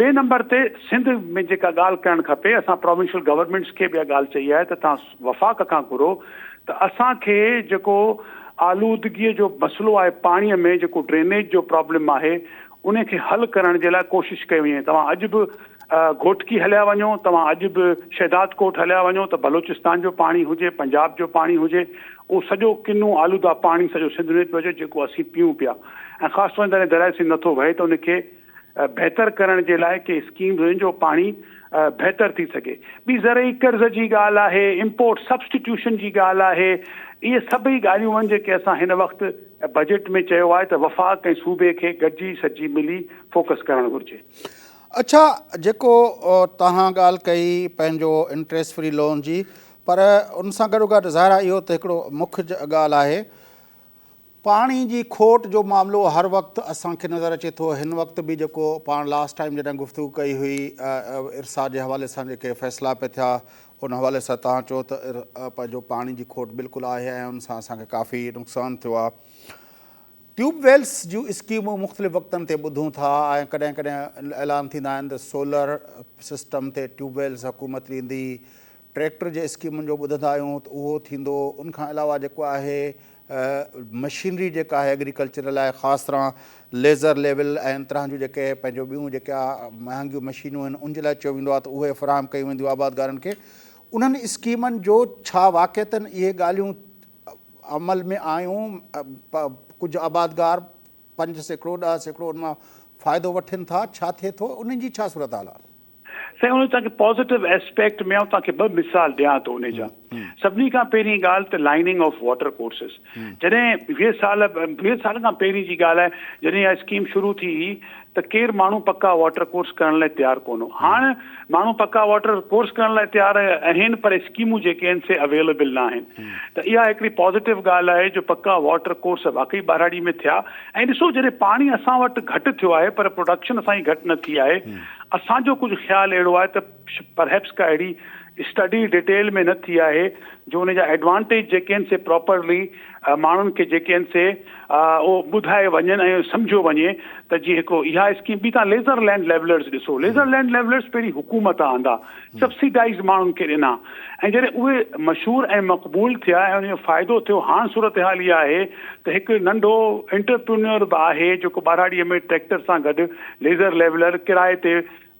ٻئي نمبر تي سنڌ ۾ جيڪا ڳالهه ڪرڻ کپي اسان پراونشل گورنمينٽس کي به اها ڳالهه چئي آهي ته توهان وفاق کان گهرو ته اسان کي جيڪو آلودگي جو مسئلو آهي پاڻي ۾ جيڪو ڊرينيج جو پرابلم آهي ان کي حل ڪرڻ جي لاء ڪوشش ڪئي وڃي توهان اڄ به گهوٽڪي هليا وڃو توهان اڄ به شهداد ڪوٽ هليا وڃو ته بلوچستان جو پاڻي هجي پنجاب جو پاڻي هجي اهو سڄو ڪنو آلوده پاڻي سڄو سنڌ ۾ پيو اچي جيڪو اسين پيئون پيا ۽ خاص طور جڏهن درياء سنڌ نٿو وهي ته ان کي بهتر ڪرڻ جي لاء ڪي اسڪيم هجن جو پاڻي بهتر ٿي سگهي. ٻي زرعي قرض جي ڳالهه آهي، امپورٽ سبسٽيٽيوشن جي ڳالهه آهي، اهي سڀئي ڳالهيون آهن جيڪي اسان هن وقت بجيٽ ۾ چيو آهي ته وفاق ۽ صوبي کي گڏجي سڏجي ملي فوڪس ڪرڻ گهرجي. اڇا جيڪو توهان ڳالهه ڪئي پنهنجو انٽريسٽ فري لون جي پر ان سان گڏوگڏ ظاهر آهي اهو ته هڪڙو مک ڳالهه آهي پاڻي جي کوٽ جو معاملو هر وقت اسان کي نظر اچي ٿو هن وقت به جيڪو پاڻ لاس ٽائيم جڏهن گفتگو ڪئي هئي ارسا جي حوالي سان جيڪي فيصلا پي ٿيا ان حوالي سان تان چو ته پنهنجو پاڻي جي کوٽ بلڪل آهي ۽ ان سان اسان کي ڪافي نقصان ٿيو آهي ٽيوب ويلس جون اسڪيمون مختلف وقتن تي ٻڌون ٿا ۽ ڪڏهن ڪڏهن اعلان ٿيندا آهن ته سولر سسٽم تي ٽيوب ويلس حڪومت ڏيندي ٽريڪٽر جي اسڪيمن جو ٻڌندا آهيون ته اهو ٿيندو ان کان علاوه جيڪو آهي مشينري جيڪا آهي ايگريڪلچر لاء خاص طرح ليزر ليول ۽ ان طرح جون جيڪي پنهنجو ٻيون جيڪا مهانگيون مشينون آهن ان جي لاء چيو ويندو آهي ته اهي فراهم ڪيون وينديون آبادگارن کي انهن اسڪيمن جو ڇا واقعتن اهي ڳالهيون عمل ۾ آيون پ پ ڪجهه آبادگار پنج سيڪڙو، ڏهه سيڪڙو ان مان فائدو وٺين ٿا، ڇا ٿئي ٿو، انهن جي ڇا صورتحال آهي؟ سائين ان توهان کي پازيٽو اسپيڪٽ ۾ آئون توهان کي ٻه مثال ڏيان ٿو ان جا. سڀني کان پهرين ڳالهه ته لائننگ آف واٽر ڪورسز جڏهن ويهه سال ويهه سال کان پهرين جي ڳالهه آهي جڏهن اها اسڪيم شروع ٿي هئي ته ڪير ماڻهو پڪا واٽر ڪورس ڪرڻ لاء تيار ڪونه هو هاڻ ماڻهو پڪا واٽر ڪورس ڪرڻ لاء تيار اهين پر اسڪيمون جيڪي اهين سي اويليبل نه آهين ته اها هڪڙي پازيٽو ڳالهه آهي جو پڪا واٽر ڪورس واقعي ٻهراڙي ۾ ٿيا ۽ ڏسو جڏهن پاڻي اسان وٽ گهٽ ٿيو آهي پر پروڊڪشن اسان جي گهٽ نه ٿي آهي اسان جو ڪجهه خيال اهڙو آهي ته پرهيپس ڪا اهڙي اسٽڊي ڊيٽيل ۾ نه ٿي آهي جو ان جا ايڊوانٽيج جيڪي اهين سي پراپرلي ماڻهن کي جيڪي آهن سي اهو ٻڌائي وڃن ۽ سمجهيو وڃي ته جي هڪ اها اسڪيم ٻي تان ليزر لينڊ ليولرز ڏسو ليزر لينڊ ليولرز پهرين حڪومت آندا سبسيڊائز ماڻهن کي ڏنا ۽ جڏهن اهي مشهور ۽ مقبول ٿيا ۽ ان جو فائدو ٿيو هاڻ صورتحال اها آهي ته هڪ ننڍو انٽرپرينيور به آهي جيڪو ٻهراڙيء ۾ ٽريڪٽر سان گڏ ليزر ليولر ڪرايي تي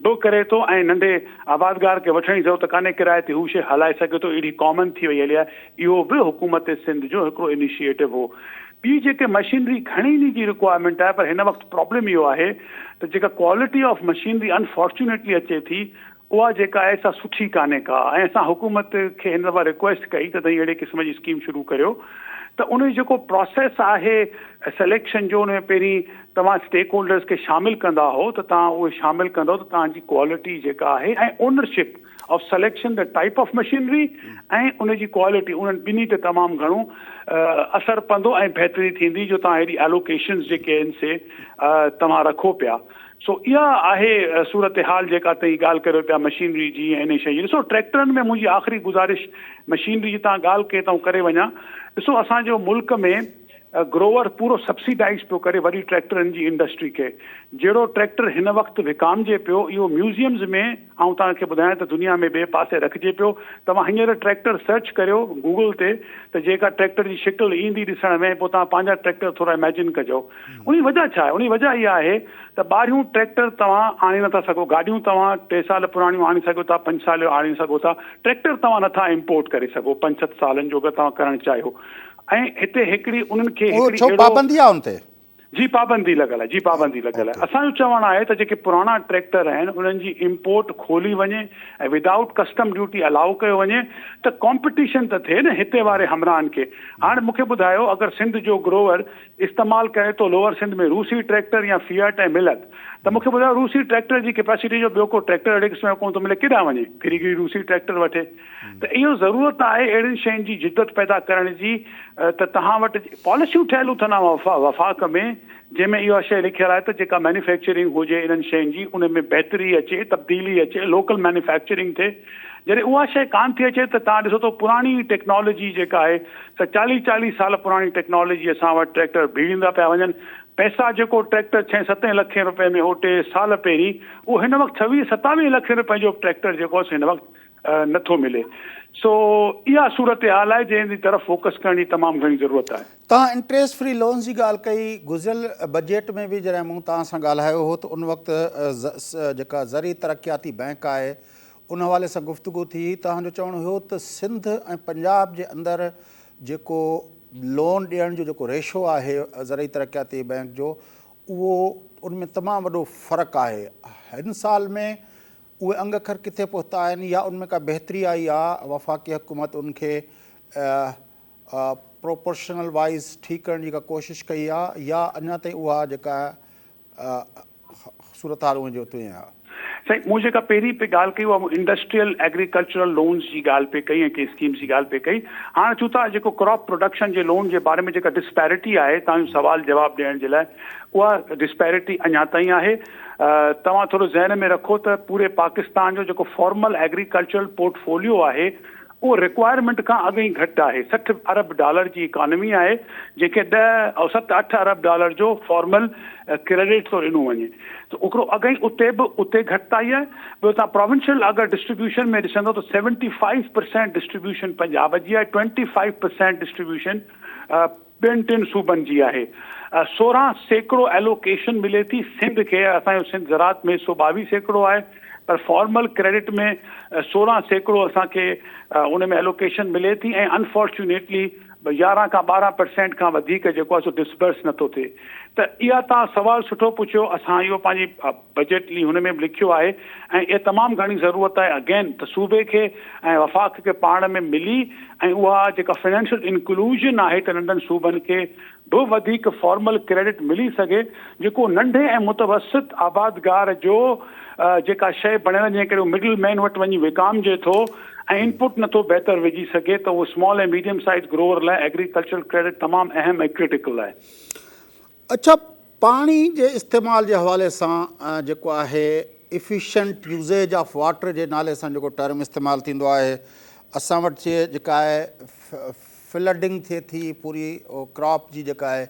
به ڪري ٿو ۽ ننڍي آبادگار کي وٺڻ جي ضرورت ڪانهي ڪرائي تي هو شيء هلائي سگهي ٿو اهڙي ڪامن ٿي وئي هلي آهي اهو به حڪومت سنڌ جو هڪڙو انيشيئيٽو هو ٻي جيڪي مشينري گهڻي انهي جي رڪوائرمينٽ آهي پر هن وقت پرابلم اهو آهي ته جيڪا ڪوالٽي آف مشينري انفارچونيٽلي اچي ٿي اها جيڪا آهي سا سٺي ڪانهي ڪا ۽ اسان حڪومت کي هن دفعا رڪويسٽ ڪئي ته تون اهڙي قسم جي اسڪيم شروع ڪريو ته ان جو جيڪو پراسيس آهي سليڪشن جو ان ۾ پهرين توهان اسٽيڪ هولڊرز کي شامل ڪندا هئو ته توهان اهي شامل ڪندو ته توهان جي ڪوالٽي جيڪا آهي ۽ ownership of selection the type of machinery ۽ ان جي ڪوالٽي انهن ٻنهي تي تمام گهڻو اثر پوندو ۽ بهتري ٿيندي جو توهان هيڏي الوڪيشنز جيڪي آهن سي توهان رکو پيا سو اها آهي صورتحال جيڪا توهين ڳالهه ڪريو پيا مشينري جي ۽ انهي شيء جي ڏسو ٽريڪٽرن ۾ منهنجي آخري گذارش مشينري جي توهان ڳالهه ڪئي ته آئون ڪري وڃان ڏسو اسان جو ملڪ ۾ گروور پورو سبسيڊائيز پيو ڪري وڏي ٽريڪٽرن جي انڊسٽري کي. جهڙو ٽريڪٽر هن وقت وڪامجي پيو اهو ميوزيمز ۾ آئون توهان کي ٻڌايان ته دنيا ۾ ٻئي پاسي رکجي پيو. توهان هينئر ٽريڪٽر سرچ ڪريو گوگل تي ته جيڪا ٽريڪٽر جي شڪل ايندي ڏسڻ ۾ پوء توهان پنهنجا ٽريڪٽر ٿورا اميجن ڪجو. ان جي وجهه ڇا آهي؟ ان جي وجهه اها آهي ته ٻاهريون ٽريڪٽر توهان آڻي نه ٿا سگهو. گاڏيون توهان ٽي سال پراڻيون آڻي سگهو ٿا، پنج سال جو آڻي سگهو ٿا. ٽريڪٽر توهان نه ٿا امپورٽ ڪري سگهو پنج ست سالن جو اگر توهان ڪرڻ چاهيو. ۽ هتي هڪڙي انهن کي هڪڙي اهڙو. ڇو پابندي آ ان تي؟ جي پابندي لڳل آهي جي پابندي لڳل آهي اسان جو چوڻ آهي ته جيڪي پراڻا ٽريڪٽر آهن انهن جي امپورٽ کولي وڃي ۽ ودائوٽ ڪسٽم ڊيوٽي الاو ڪيو وڃي ته ڪامپيٽيشن ته ٿئي نه هتي واري همراهن کي هاڻ مون کي ٻڌايو اگر سنڌ جو گروور استعمال ڪري ٿو لوور سنڌ ۾ روسي ٽريڪٽر يا فيئٽ ۽ ملت ته مون کي ٻڌايو روسي ٽريڪٽر جي ڪيپيسٽي جو ٻيو ڪو ٽريڪٽر اهڙي قسم جو ڪونه ٿو ملي ڪيڏانهن وڃي ڦري گري روسي ٽريڪٽر وٺي ته اهو ضرورت آهي اهڙين شين جي جدت پيدا ڪرڻ جي ته توهان وٽ پاليسيون ٺهيل اٿن عام وفاق ۾ جنهن ۾ اها شيء لکيل آهي ته جيڪا مينوفيڪچرنگ هجي انهن شين جي ان ۾ بهتري اچي تبديلي اچي لوڪل مينوفيڪچرنگ ٿئي جڏهن اها شيء ڪانه ٿي اچي ته توهان ڏسو ته پراڻي ٽيڪنالاجي جيڪا آهي ته چاليهه چاليهه سال پراڻي ٽيڪنالاجي اسان وٽ ٽريڪٽر بيڙيندا پيا وڃن پئسا جيڪو ٽريڪٽر ڇهين ستين لکين روپين ۾ هو ٽي سال پهرين اهو هن وقت ڇويهه ستاويهه لکين روپين جو ٽريڪٽر جيڪو هن وقت نه ٿو ملي سو اها صورتحال آهي جنهن جي طرف فوڪس ڪرڻ جي تمام گهڻي ضرورت آهي. توهان انٽريسٽ فري لونز جي ڳالهه ڪئي گذريل بجيٽ ۾ به جڏهن مون توهان سان ڳالهايو هو ته ان وقت جيڪا زرعي ترقياتي بئنڪ آهي ان حوالي سان گفتگو ٿي هئي توهان جو چوڻ هيو ته سنڌ ۽ پنجاب جي اندر جيڪو لون ڏيڻ جو جيڪو ريشو آهي زرعي ترقياتي بئنڪ جو اهو ان ۾ تمام وڏو فرق آهي هن سال ۾ اهي انگ اکر ڪٿي پهتا آهن يا ان ۾ ڪا بهتري آئي آ وفاقي حڪومت ان کي پروپورشنل وائيز ٺيڪ ڪرڻ جي ڪا ڪوشش ڪئي آ يا اڃا تائين اها جيڪا صورتحال اونهي جو تونهي آ. سائين مون جيڪا پهرين پي ڳالهه ڪئي اها مون انڊسٽريل ايگريڪلچرل لونز جي ڳالهه پي ڪئي ۽ ڪي اسڪيمز جي ڳالهه پي ڪئي هاڻ چون ٿا جيڪو ڪراپ پروڊڪشن جي لون جي باري ۾ جيڪا ڊسپيرٽي آهي توهان جو سوال جواب ڏيڻ جي لاء اها ڊسپيرٽي اڃا تائين آهي توهان ٿورو ذهن ۾ رکو ته پوري پاڪستان جو جيڪو فارمل ايگريڪلچرل پورٽ فوليو آهي اهو رڪوائرمينٽ کان اڳ ئي گهٽ آهي، سٺ ارب ڊالر جي اڪانومي آهي جنهن کي ڏهه او ست اٺ ارب ڊالر جو فارمل ڪريڊٽ ٿو ڏنو وڃي ته اوڪرو اڳ ئي اتي به اتي گهٽتائي آهي ٻيو توهان پراونشل اگر ڊسٽريبيوشن ۾ ڏسندو ته seventy five percent distribution Punjab جي آهي ٽوئنٽي فائيو پرسينٽ ڊسٽريبيوشن ٻين ٽن صوبن جي آهي سورهن سيڪڙو ايلوڪيشن ملي ٿي سنڌ کي اسان جو سنڌ زراعت ۾ سو ٻاويهه سيڪڙو آهي پر فارمل ڪريڊٽ ۾ سورهن سيڪڙو اسان کي ان ۾ ايلوڪيشن ملي ٿي ۽ انفارچونيٽلي يارهن کان ٻارهن پرسينٽ کان وڌيڪ جيڪو آهي سو ڊسبرس نٿو ٿئي ته اها تان سوال سٺو پڇيو اسان اهو پنهنجي بجيٽ لي هن ۾ به لکيو آهي ۽ اها تمام گهڻي ضرورت آهي اگين ته صوبي کي ۽ وفاق کي پاڻ ۾ ملي ۽ اها جيڪا فنانشل انڪلوزن آهي ته ننڍن صوبن کي به وڌيڪ فارمل ڪريڊٽ ملي سگهي جيڪو ننڍي ۽ متوسط آبادگار جو جيڪا شئي بڻيل جنهن ڪري هو مڊل مين وٽ وڃي وڪامجي ٿو ۽ انپوٽ نٿو بهتر وجهي سگهي ته اهو سمال ۽ ميڊيم سائيز گروور لاء ايگريڪلچرل ڪريڊٽ تمام اهم ۽ ڪرٽيڪل آهي. اڇا پاڻي جي استعمال جي حوالي سان جيڪو آهي افيشنٽ يوزيج آف واٽر جي نالي سان جيڪو ٽرم استعمال ٿيندو آهي اسان وٽ جي جيڪا آهي فلڊنگ ٿئي ٿي پوري ڪراپ جي جيڪا آهي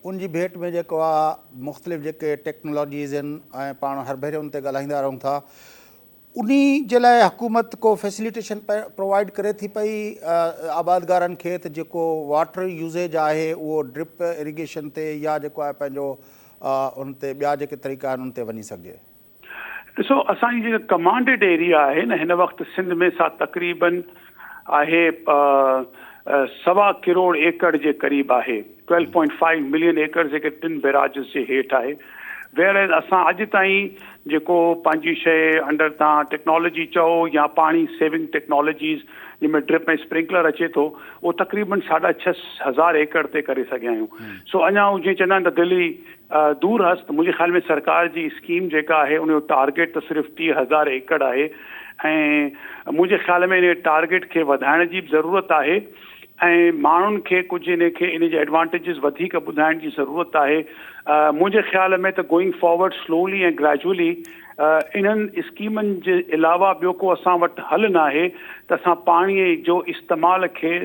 ان جي ڀيٽ ۾ جيڪو آهي مختلف جيڪي ٽيڪنالاجيز آهن ۽ پاڻ هر ڀيري ان تي ڳالهائيندا رهون ٿا انهي جي لاء حڪومت ڪو فيسليٽيشن پرووائيڊ ڪري ٿي پئي آبادگارن کي ته جيڪو واٽر يوزيج آهي اهو ڊرپ اريگيشن تي يا جيڪو آهي پنهنجو ان تي ٻيا جيڪي طريقا آهن ان تي وڃي سگهجي. ڏسو اسان جي جيڪا ڪمانڊيڊ ايريا آهي نه هن وقت سنڌ ۾ سا تقريبن آهي سوا ڪروڙ ايڪڙ جي قريب آهي Twelve Point Five Million Acres جيڪي ٽن بيراجز جي هيٺ آهي وير ايز اسان اڄ تائين جيڪو پنهنجي شيء انڊر تان ٽيڪنالاجي چئو يا پاڻي سيونگ ٽيڪنالاجيز جنهن ۾ ڊرپ ۽ اسپرنڪلر اچي ٿو اهو تقريبن ساڍا ڇهه هزار ايڪڙ تي ڪري سگهيا آهيون سو اڃا جيئن چوندا آهن ته دلي دور هست منهنجي خيال ۾ سرڪار جي اسڪيم جيڪا آهي ان جو ٽارگيٽ ته صرف ٽيهه هزار ايڪڙ آهي ۽ منهنجي خيال ۾ ان ٽارگيٽ کي وڌائڻ جي به ضرورت آهي ۽ ماڻهن کي ڪجهه ان کي ان جي ايڊوانٽيجز وڌيڪ ٻڌائڻ جي ضرورت آهي منهنجي خيال ۾ ته گوئنگ فارورڊ سلولي ۽ گريجولي انهن اسڪيمن جي علاوه ٻيو ڪو اسان وٽ حل ناهي ته اسان پاڻي جو استعمال کي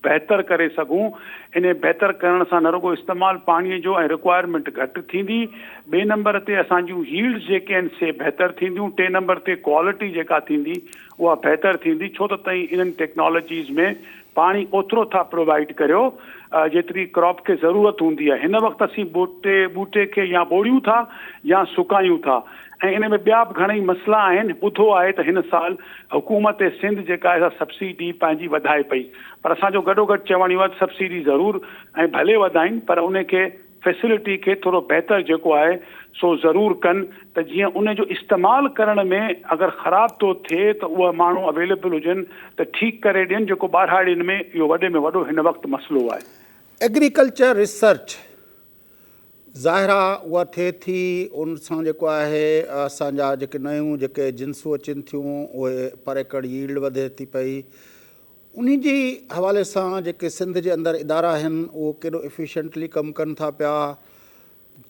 بهتر ڪري سگهون. انهي بهتر ڪرڻ سان نه رڳو استعمال پاڻي جو ۽ رڪوائرمينٽ گهٽ ٿيندي، ٻئي نمبر تي اسان جون ييلڊز جيڪي آهن سي بهتر ٿينديون، ٽئين نمبر تي ڪوالٽي جيڪا ٿيندي اها بهتر ٿيندي ڇو ته تهين انهن ٽيڪنالاجيز ۾ پاڻي اوترو ٿا پرووائيڊ ڪريو جيتري ڪراپ کي ضرورت هوندي آهي. هن وقت اسين ٻوٽي ٻوٽي کي يا ٻوڙيون ٿا يا سڪايون ٿا. ۽ ان ۾ ٻيا به گهڻئي مسئلا آهن، ٻڌو آهي ته هن سال حڪومت سنڌ جيڪا آهي سا سبسڊي پنهنجي وڌائي پئي پر اسان جو گڏو گڏ چوڻ اهو آهي ته سبسڊي ضرور ۽ ڀلي وڌائين پر ان کي فيسلٽي کي ٿورو بهتر جيڪو آهي سو ضرور ڪن ته جيئن ان جو استعمال ڪرڻ ۾ اگر خراب ٿو ٿئي ته اها ماڻهو اويليبل هجن ته ٺيڪ ڪري ڏين جيڪو ٻاراڙين ۾ اهو وڏي ۾ وڏو هن وقت مسئلو آهي. ايگريڪلچر ريسرچ ظاهر آ اها ٿئي ٿي ان سان جيڪو آهي اسان جا جيڪي نيون جيڪي جنسون اچن ٿيون اهي پر ايڪڙ ييلڊ وڌي ٿي پئي انهي جي حوالي سان جيڪي سنڌ جي اندر ادارا آهن اهو ڪيڏو افيشنٽلي ڪم ڪن ٿا پيا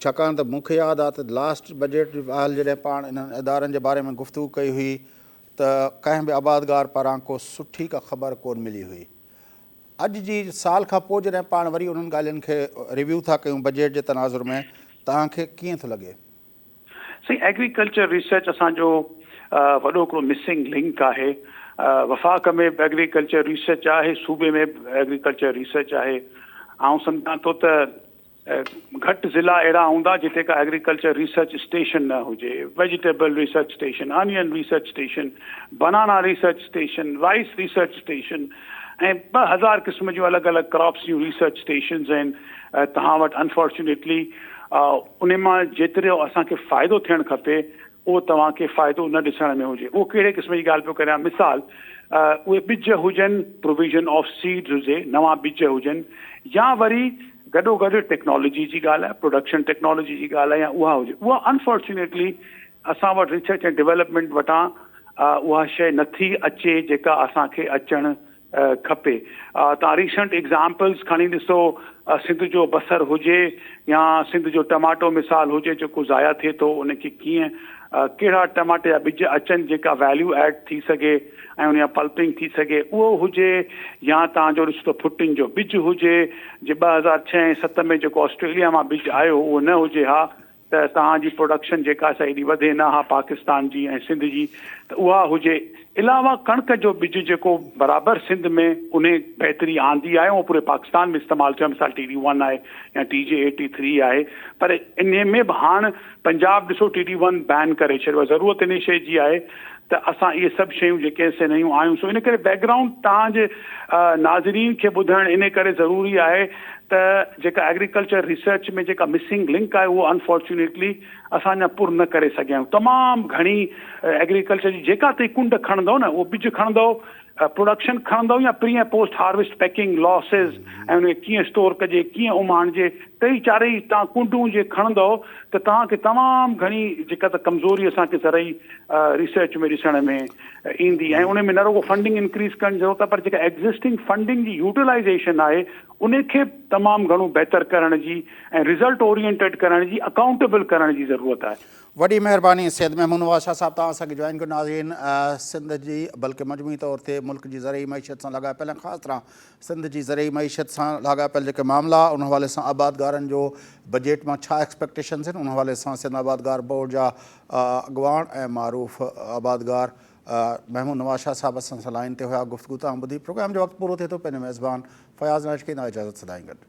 ڇاڪاڻ ته مون کي ياد آ ته لاسٽ بجيٽ جي مهل جڏهن پاڻ انهن ادارن جي باري ۾ گفتگو ڪئي هئي ته ڪنهن به آبادگار پاران ڪو سٺي ڪا خبر ڪون ملي هئي اڄ جي سال کان پوء جڏهن پاڻ وري انهن ڳالهين کي ريويو ٿا ڪيون بجيٽ جي تناظر ۾ توهان کي ڪيئن ٿو لڳي؟ سائين ايگريڪلچر ريسرچ اسان جو وڏو هڪڙو مسنگ لنڪ آهي وفاق ۾ به ايگريڪلچر ريسرچ آهي صوبي ۾ به ايگريڪلچر ريسرچ آهي آئون سمجهان ٿو ته گهٽ ضلعا اهڙا هوندا جتي ڪا ايگريڪلچر ريسرچ اسٽيشن نه هجي، vegetable research station, onion research station, banana research station, rice research station ۽ ٻه هزار قسم جون الڳ الڳ ڪراپس جون ريسرچ اسٽيشنز آهن توهان وٽ انفارچونيٽلي انهن مان جيترو اسان کي فائدو ٿيڻ کپي اهو توهان کي فائدو نه ڏسڻ ۾ هجي اهو ڪهڙي قسم جي ڳالهه پيو ڪريان مثال اهي ٻج هجن پروويزن آف سيڊز هجي نوان ٻج هجن يا وري گڏو گڏ ٽيڪنالاجي جي ڳالهه آهي، پروڊڪشن ٽيڪنالاجي جي ڳالهه آهي يا اها هجي، اها انفارچونيٽلي اسان وٽ ريسرچ ۽ ڊيولپمينٽ وٽان اها شيء نٿي اچي جيڪا اسان کي اچڻ کپي. توهان ريسنٽ ايگزامپلز کڻي ڏسو، سنڌ جو بصر هجي يا سنڌ جو ٽماٽو مثال هجي جيڪو ضايع ٿئي ٿو، ان کي ڪيئن ڪهڙا ٽماٽي جا ٻج اچن جيڪا ويليو ايڊ ٿي سگهي، ۽ ان جا پلپنگ ٿي سگهي اهو هجي يا توهان جو رشتو ڦٽن جو ٻج هجي جي ٻه هزار ڇهه ۽ ست ۾ جيڪو آسٽريليا مان ٻج آيو اهو نه هجي ها ته توهان جي پروڊڪشن جيڪا سا ايڏي وڌي نه ها پاڪستان جي ۽ سنڌ جي ته اها هجي علاوه ڪڻڪ جو ٻج جيڪو برابر سنڌ ۾ ان بهتري آندي آهي اهو پوري پاڪستان ۾ استعمال ٿيو مثال ٽي ڊي ون آهي يا ٽي جي ايٽي ٿري آهي پر ان ۾ به هاڻ پنجاب ڏسو ٽي ڊي ون بين ڪري ڇڏيو آهي ضرورت انهي شئي جي آهي ته اسان اهي سڀ شيون جيڪي آهن سي نيون آيون سو ان ڪري بيڪ گرائونڊ توهان جي ناظرين کي ٻڌائڻ انهي ڪري ضروري آهي ته جيڪا ايگريڪلچر ريسرچ ۾ جيڪا مسنگ لنڪ آهي اهو انفارچونيٽلي اسان اڃا پر نه ڪري سگهيا آهيون تمام گهڻي ايگريڪلچر جي جيڪا تهين ڪنڊ کڻندو نه اهو ٻج کڻندو پروڊڪشن کڻندو يا pre ۽ post harvest packing, losses ۽ ان کي ڪيئن اسٽور ڪجي، ڪيئن اماڻجي، ٽئي چارئي تان ڪنڊون جي کڻندو ته توهان کي تمام گهڻي جيڪا ته ڪمزوري اسان کي زرعي ريسرچ ۾ ڏسڻ ۾ ايندي ۽ ان ۾ نه رڳو فنڊنگ انڪريز ڪرڻ جي ضرورت آهي پر جيڪا ايگزسٽنگ فنڊنگ جي يوٽيلائيزيشن آهي ان کي به تمام گهڻو بهتر ڪرڻ جي ۽ رزلٽ اورينٽيڊ ڪرڻ جي اڪائونٽيبل ڪرڻ جي ضرورت آهي. وڏي مهرباني سيد محمود نواز شاهه صاحب توهان اسان کي جوائن ڪيو ناظرين سنڌ جي بلڪه مجموعي طور تي ملڪ جي زرعي معيشت سان لاڳاپيل ۽ خاص طرح سنڌ جي زرعي معيشت سان لاڳاپيل جيڪي معاملا ان حوالي سان آبادگارن جو بجيٽ مان ڇا ايڪسپيڪٽيشنز ان حوالي سان سنڌ آبادگار بورڊ جا اڳواڻ ۽ معروف آبادگار محمود نواز شاهه صاحب اسان سان لائن تي هيا گفتگو توهان ٻڌي پروگرام جو وقت پورو ٿئي ٿو پنهنجو ميزبان فياض نائش کي اجازت سدائين گڏ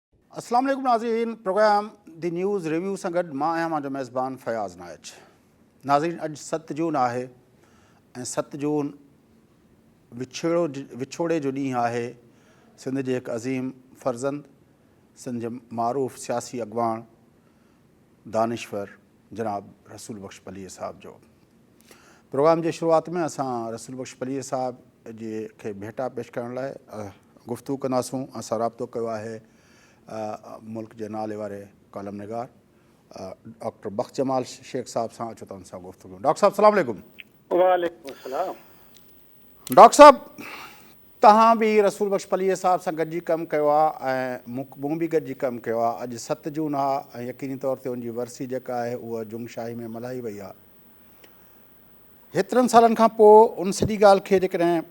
اسلام عليڪم ناظرين پروگرام دي نيوز ريويو سان گڏ مان آهيان مانجو ميزبان فياض نائچ ناظرين اڄ ست جون آهي ۽ ست جون وڇڙو وڇوڙي جو ڏينهن آهي سنڌ جي هڪ عظيم فرزند سنڌ جي معروف سياسي اڳواڻ دانشور جناب رسول بخش پليجي صاحب جو پروگرام جي شروعات ۾ اسان رسول بخش پليجي صاحب جي کي ڀيٽا پيش ڪرڻ لاء گفتگو ڪنداسون اسان رابطو ڪيو آهي ملڪ جي نالي واري ڪالم نگار ڊاڪٽر بخش جمال شيخ صاحب سان اچو تن سان گفتگو ڊاڪٽر صاحب السلام عليڪم وعليڪم السلام ڊاڪٽر صاحب تهان به رسول بخش پليجي صاحب سان گڏجي ڪم ڪيو آهي ۽ مون به گڏجي ڪم ڪيو آهي اڄ ست جون آهي ۽ يقيني طور تي ان جي ورسي جيڪا آهي اها جنگ شاهي ۾ ملهائي وئي آهي هيترن سالن کان پوء ان سڄي ڳالهه کي جيڪڏهن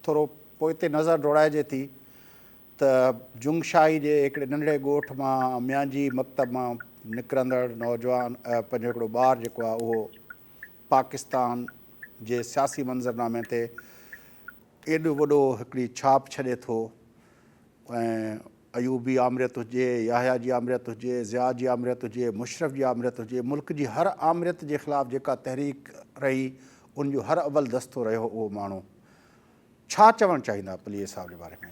ٿورو پوئتي نظر ڊوڙائجي ٿي ته جنگ شاهي جي هڪڙي ننڍڙي ڳوٺ مان ميانجي مڪتب مان نڪرندڙ نوجوان پنهنجو هڪڙو ٻار جيڪو آهي اهو پاڪستان جي سياسي منظرنامي تي ايڏو وڏو هڪڙي ڇاپ ڇڏي ٿو ۽ ايوب جي آمريت هجي، يحيٰ جي آمريت هجي، ضياء جي آمريت هجي، مشرف جي آمريت هجي، ملڪ جي هر آمريت جي خلاف جيڪا تحريڪ رهي ان جو هر اول دستو رهيو اهو ماڻهو. ڇا چوڻ چاهيندا پليجي صاحب جي باري ۾؟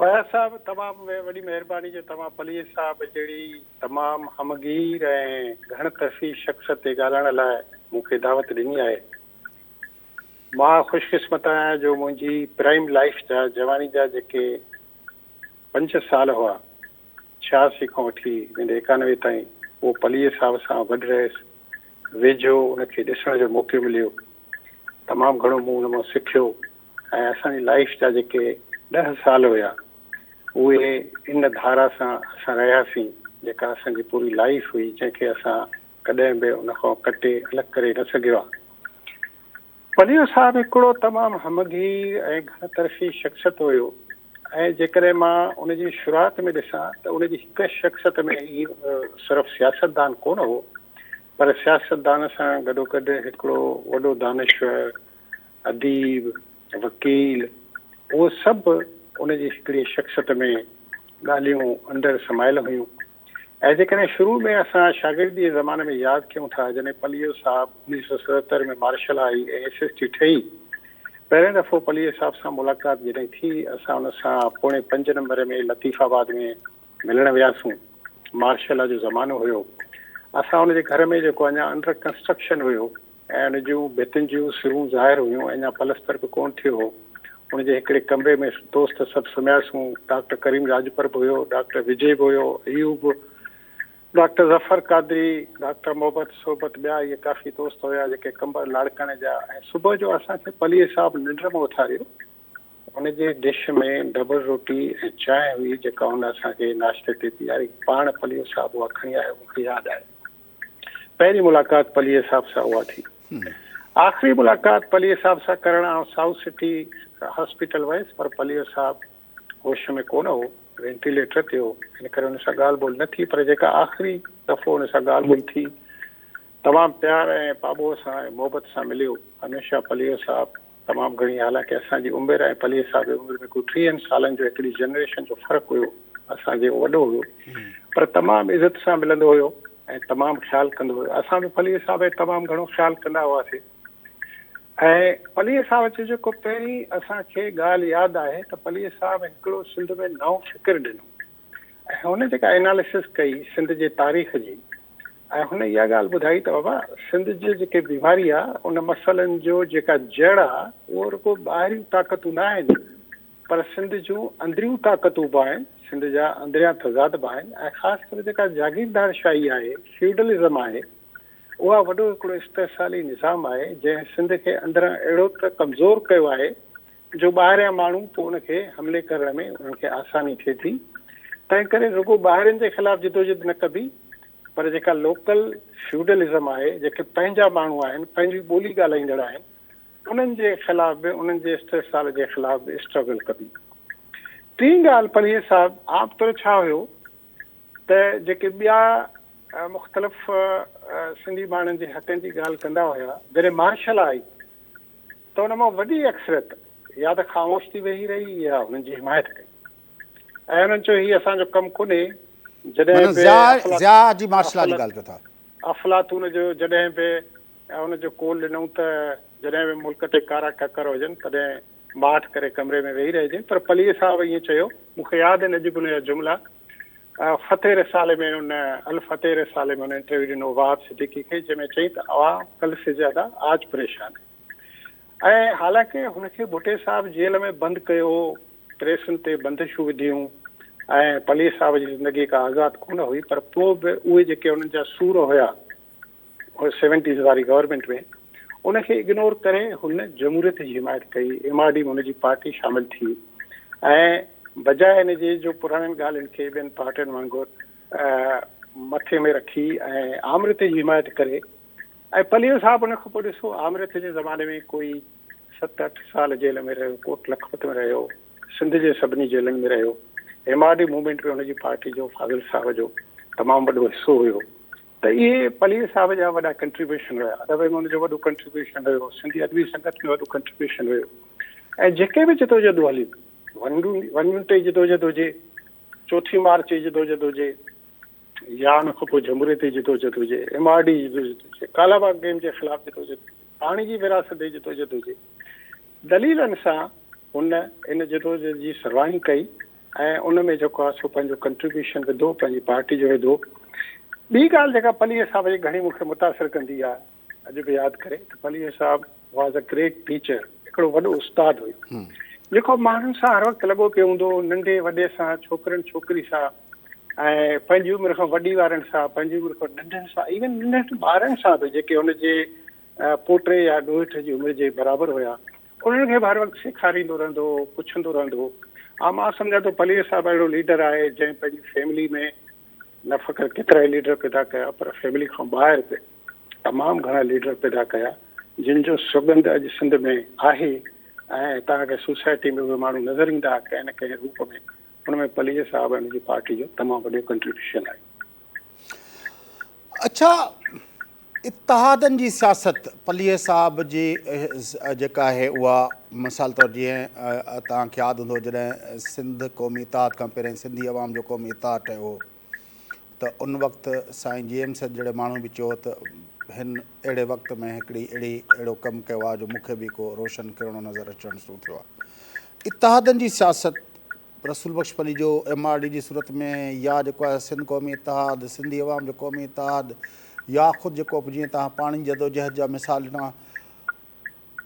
اياز صاحب تمام وڏي مهرباني جو توهان پليجي صاحب جهڙي تمام همگير ۽ گهڻ طرفي شخص تي ڳالهائڻ لاء مون کي دعوت ڏني آهي. مان خوش قسمت آهيان جو منهنجي پرائيم لائيف جا جواني جا جيڪي پنج سال هئا ڇياسي کان وٺي ويندي ايڪانوي تائين اهو پليي صاحب سان گڏ رهيس ويجهو ان کي ڏسڻ جو موقعو مليو تمام گهڻو مون ان مان سکيو ۽ اسان جي لائيف جا جيڪي ڏهه سال هيا اهي ان ڌارا سان اسان رهياسين جيڪا اسان جي پوري لائيف هئي جنهن کي اسان ڪڏهن به ان کان ڪٽي الڳ ڪري نه سگهيا پليو صاحب هڪڙو تمام همگي ۽ گهڻ طرفي شخصت هيو ۽ جيڪڏهن مان ان جي شروعات ۾ ڏسان ته ان جي هڪ شخصت ۾ هي صرف سياستدان ڪونه هو پر سياستدان سان گڏوگڏ هڪڙو وڏو دانشور، اديب، وڪيل اهو سڀ ان جي هڪڙي شخصت ۾ ڳالهيون اندر سمايل هيون. ۽ جيڪڏهن شروع ۾ اسان شاگردي جي زماني ۾ ياد ڪيون ٿا جڏهن پليو صاحب انيس سئو ستهتر ۾ مارشل آئي ۽ ايس ايس ٽي ٺهي پهرين دفعو پليو صاحب سان ملاقات جڏهن ٿي اسان ان سان پوڻي پنج نمبر ۾ لطيف آباد ۾ ملڻ وياسون مارشل آ جو زمانو هيو اسان ان جي گهر ۾ جيڪو اڃا انڊر ڪنسٽرڪشن هيو ۽ ان جون ڀتين جون سرون ظاهر هيون، اڃا پلستر به ڪونه ٿيو هو. ان جي هڪڙي ڪمري ۾ دوست سڀ سمهياسون. ڊاڪٽر ڪريم راڄپر به هيو، ڊاڪٽر وجي به هيو، ايوب، ڊاڪٽر ظفر قادري، ڊاڪٽر محبت، صحبت ٻيا اهي ڪافي دوست هيا جيڪي ڪمبر لاڙڪاڻي جا ۽ صبح جو اسان کي پليجي صاحب ننڊ مان اٿاريو. ان جي ڊش ۾ ڊبل روٽي ۽ چانهه هئي جيڪا هن اسان کي ناشتي تي پياري. پاڻ پليجي صاحب اها کڻي آيو، مون کي ياد آهي. پهرين ملاقات پليجي صاحب سان اها ٿي. آخري ملاقات پليجي صاحب سان ڪرڻ آئون سائوٿ سٽي هاسپيٽل ويس پر پليجو صاحب هوش ۾ ڪونه هو، وينٽيليٽر تي هو، ان ڪري هن سان ڳالهه ٻولهه نه ٿي پر جيڪا آخري دفعو هن سان ڳالهه ٻولهه ٿي تمام پيار ۽ پاٻوهه سان ۽ محبت سان مليو. هميشه پليجو صاحب تمام گهڻي حالانڪه اسان جي عمر ۽ پليء صاحب جي عمر ۾ ڪو ٽيهن سالن جو هڪڙي جنريشن جو فرق هيو اسان جي وڏو هيو پر تمام عزت سان ملندو هيو ۽ تمام خيال ڪندو هيو اسان به پليء صاحب جو تمام گهڻو خيال ڪندا هئاسي ۽ پليء صاحب جو جيڪو پهرين اسان کي ڳالهه ياد آهي ته پليء صاحب هڪڙو سنڌ ۾ نئون فڪر ڏنو ۽ هن جيڪا اناليسس ڪئي سنڌ جي تاريخ جي ۽ هن اها ڳالهه ٻڌائي ته بابا سنڌ جي جيڪي بيماري آهي ان مسئلن جو جيڪا جڙ آهي اهو رڳو ٻاهريون طاقتون نه آهن پر سنڌ جون اندريون طاقتون به آهن سنڌ جا اندريان تضاد به آهن ۽ خاص ڪري جيڪا جاگيردار شاهي آهي فيوڊلزم آهي اها وڏو هڪڙو استحصالي نظام آهي جنهن سنڌ کي اندران اهڙو ته ڪمزور ڪيو آهي جو ٻاهريان ماڻهو پوء ان کي حملي ڪرڻ ۾ انهن کي آساني ٿئي ٿي تنهن ڪري رڳو ٻاهرين جي خلاف جدوجھد نه ڪبي پر جيڪا لوڪل فيوڊلزم آهي جيڪي پنهنجا ماڻهو آهن پنهنجي ٻولي ڳالهائيندڙ آهن انهن جي خلاف به انهن جي استحصال جي خلاف به اسٽرگل ڪبي ٽين ڳالهه پلهير صاحب عام طور ڇا هيو ته جيڪي ٻيا مختلف سنڌي ماڻهن جي حقن جي ڳالهه ڪندا هيا جڏهن مارشل آئي ته ان مان وڏي اڪثريت يا ته خاموش ٿي ويهي رهي يا هنن جي حمايت ڪئي ۽ هنن چيو هي اسان جو ڪم ڪونهي جڏهن به افلاطون جو جڏهن به ان جو قول ڏنئون ته جڏهن به ملڪ تي ڪارا ڪڪر هجن تڏهن ماٺ ڪري ڪمري ۾ ويهي رهجي پر پليء صاحب ائين چيو مون کي ياد آهن اڄ به ان جا جملا فتح رسالي ۾ ان الفتح رسالي ۾ ان انٽرويو ڏنو وهاب صديقي کي جنهن ۾ چئي ته عوام ڪل سي زياده آج پريشان هي ۽ حالانڪه هن کي ڀٽي صاحب جيل ۾ بند ڪيو هو، پريسن تي بندشون وڌيون ۽ پلير صاحب جي زندگي ڪا آزاد ڪونه هئي پر پوء به اهي جيڪي انهن جا سور هيا سيونٽيز واري گورنمينٽ ۾ ان کي اگنور ڪري هن جمهوريت جي حمايت ڪئي، ايم آر ڊي ۾ هن جي پارٽي شامل ٿي ۽ بجاء ان جي جو پراڻين ڳالهين کي ٻين پارٽين وانگر مٿي ۾ رکي ۽ آمريت جي حمايت ڪري ۽ پليو صاحب ان کان پوء ڏسو آمريت جي زماني ۾ ڪوئي ست اٺ سال جيل ۾ رهيو، ڪوٽ لکپت ۾ رهيو، سنڌ جي سڀني جيلن ۾ رهيو، ايم آر ڊي موومينٽ ۾ هن جي پارٽي جو فاضل صاحب جو تمام وڏو حصو هيو ته اهي پليو صاحب جا وڏا ڪنٽريبيوشن هيا، ادب ۾ هن جو وڏو ڪنٽريبيوشن هيو، سنڌي ادبي سنگت ۾ وڏو ڪنٽريبيوشن هيو ۽ جيڪي به جدوجهدون هليون ون ون ٽي جدوجهد هجي، چوٿين مارچ جي جدوجهد هجي، يا ان کان پوء جمهوريتي جدوجھد هجي، ايم آر ڊي جي جدوجھد هجي، ڪالا باغ ڊيم جي خلاف جدوجھد هجي، پاڻي جي ورهاست جي جدوجھد هجي، دليلن سان هن ان جدوجھد جي سرواهي ڪئي ۽ ان ۾ جيڪو آهي سو پنهنجو ڪنٽريبيوشن وڌو، پنهنجي پارٽي جو وڌو. ٻي ڳالهه جيڪا پليجي صاحب جي گھڻي مون کي متاثر ڪندي آهي، اڄ به ياد ڪري ته پليجي صاحب واز ا گريٽ ٽيچر هڪڙو وڏو استاد هيو جيڪو ماڻهن سان هر وقت لڳو پيو هوندو هو ننڍي وڏي سان ڇوڪرن ڇوڪري سان ۽ پنهنجي عمر کان وڏي وارن سان پنهنجي عمر کان ننڍن سان ايون ننڍن ٻارن سان به جيڪي هن جي پوٽي يا ڏوهيٺ جي عمر جي برابر هيا انهن کي به هر وقت سيکاريندو رهندو هو پڇندو رهندو هو ها مان سمجھان ٿو پليجي صاحب اهڙو ليڊر آهي جنهن پنهنجي فيملي ۾ نه فقط ڪيترا ئي ليڊر پيدا ڪيا پر فيملي کان ٻاهر به تمام گهڻا ليڊر پيدا ڪيا جن جو سڳنڌ اڄ سنڌ ۾ آهي ۽ هتان کي سوسائٽي ۾ اهي ماڻهو نظر ايندا ڪنهن نه ڪنهن روپ ۾ ان ۾ پليجي صاحب ۽ ان جي پارٽي جو تمام وڏو ڪنٽريبيوشن آهي. اڇا اتحادن جي سياست پليجي صاحب جي جيڪا آهي اها مثال طور جيئن توهان کي ياد هوندو جڏهن سنڌ قومي اتحاد کان پهرين سنڌي عوام جو قومي اتحاد ٺهيو هو ته ان وقت سائين جي ايم سيد جهڙي ماڻهوء به چيو ته هن اهڙي وقت ۾ هڪڙي اهڙي اهڙو ڪم ڪيو آهي جو مون کي به ڪو روشن ڪرڻو نظر اچڻ شروع ٿيو آهي. اتحادن جي سياست رسول Bakhsh Palijo M R D جي صورت ۾ يا جيڪو آهي سنڌ قومي اتحاد، سنڌي عوام جو قومي اتحاد يا خود جيڪو به جيئن توهان پاڻي جي جدوجهد جا مثال ڏنا،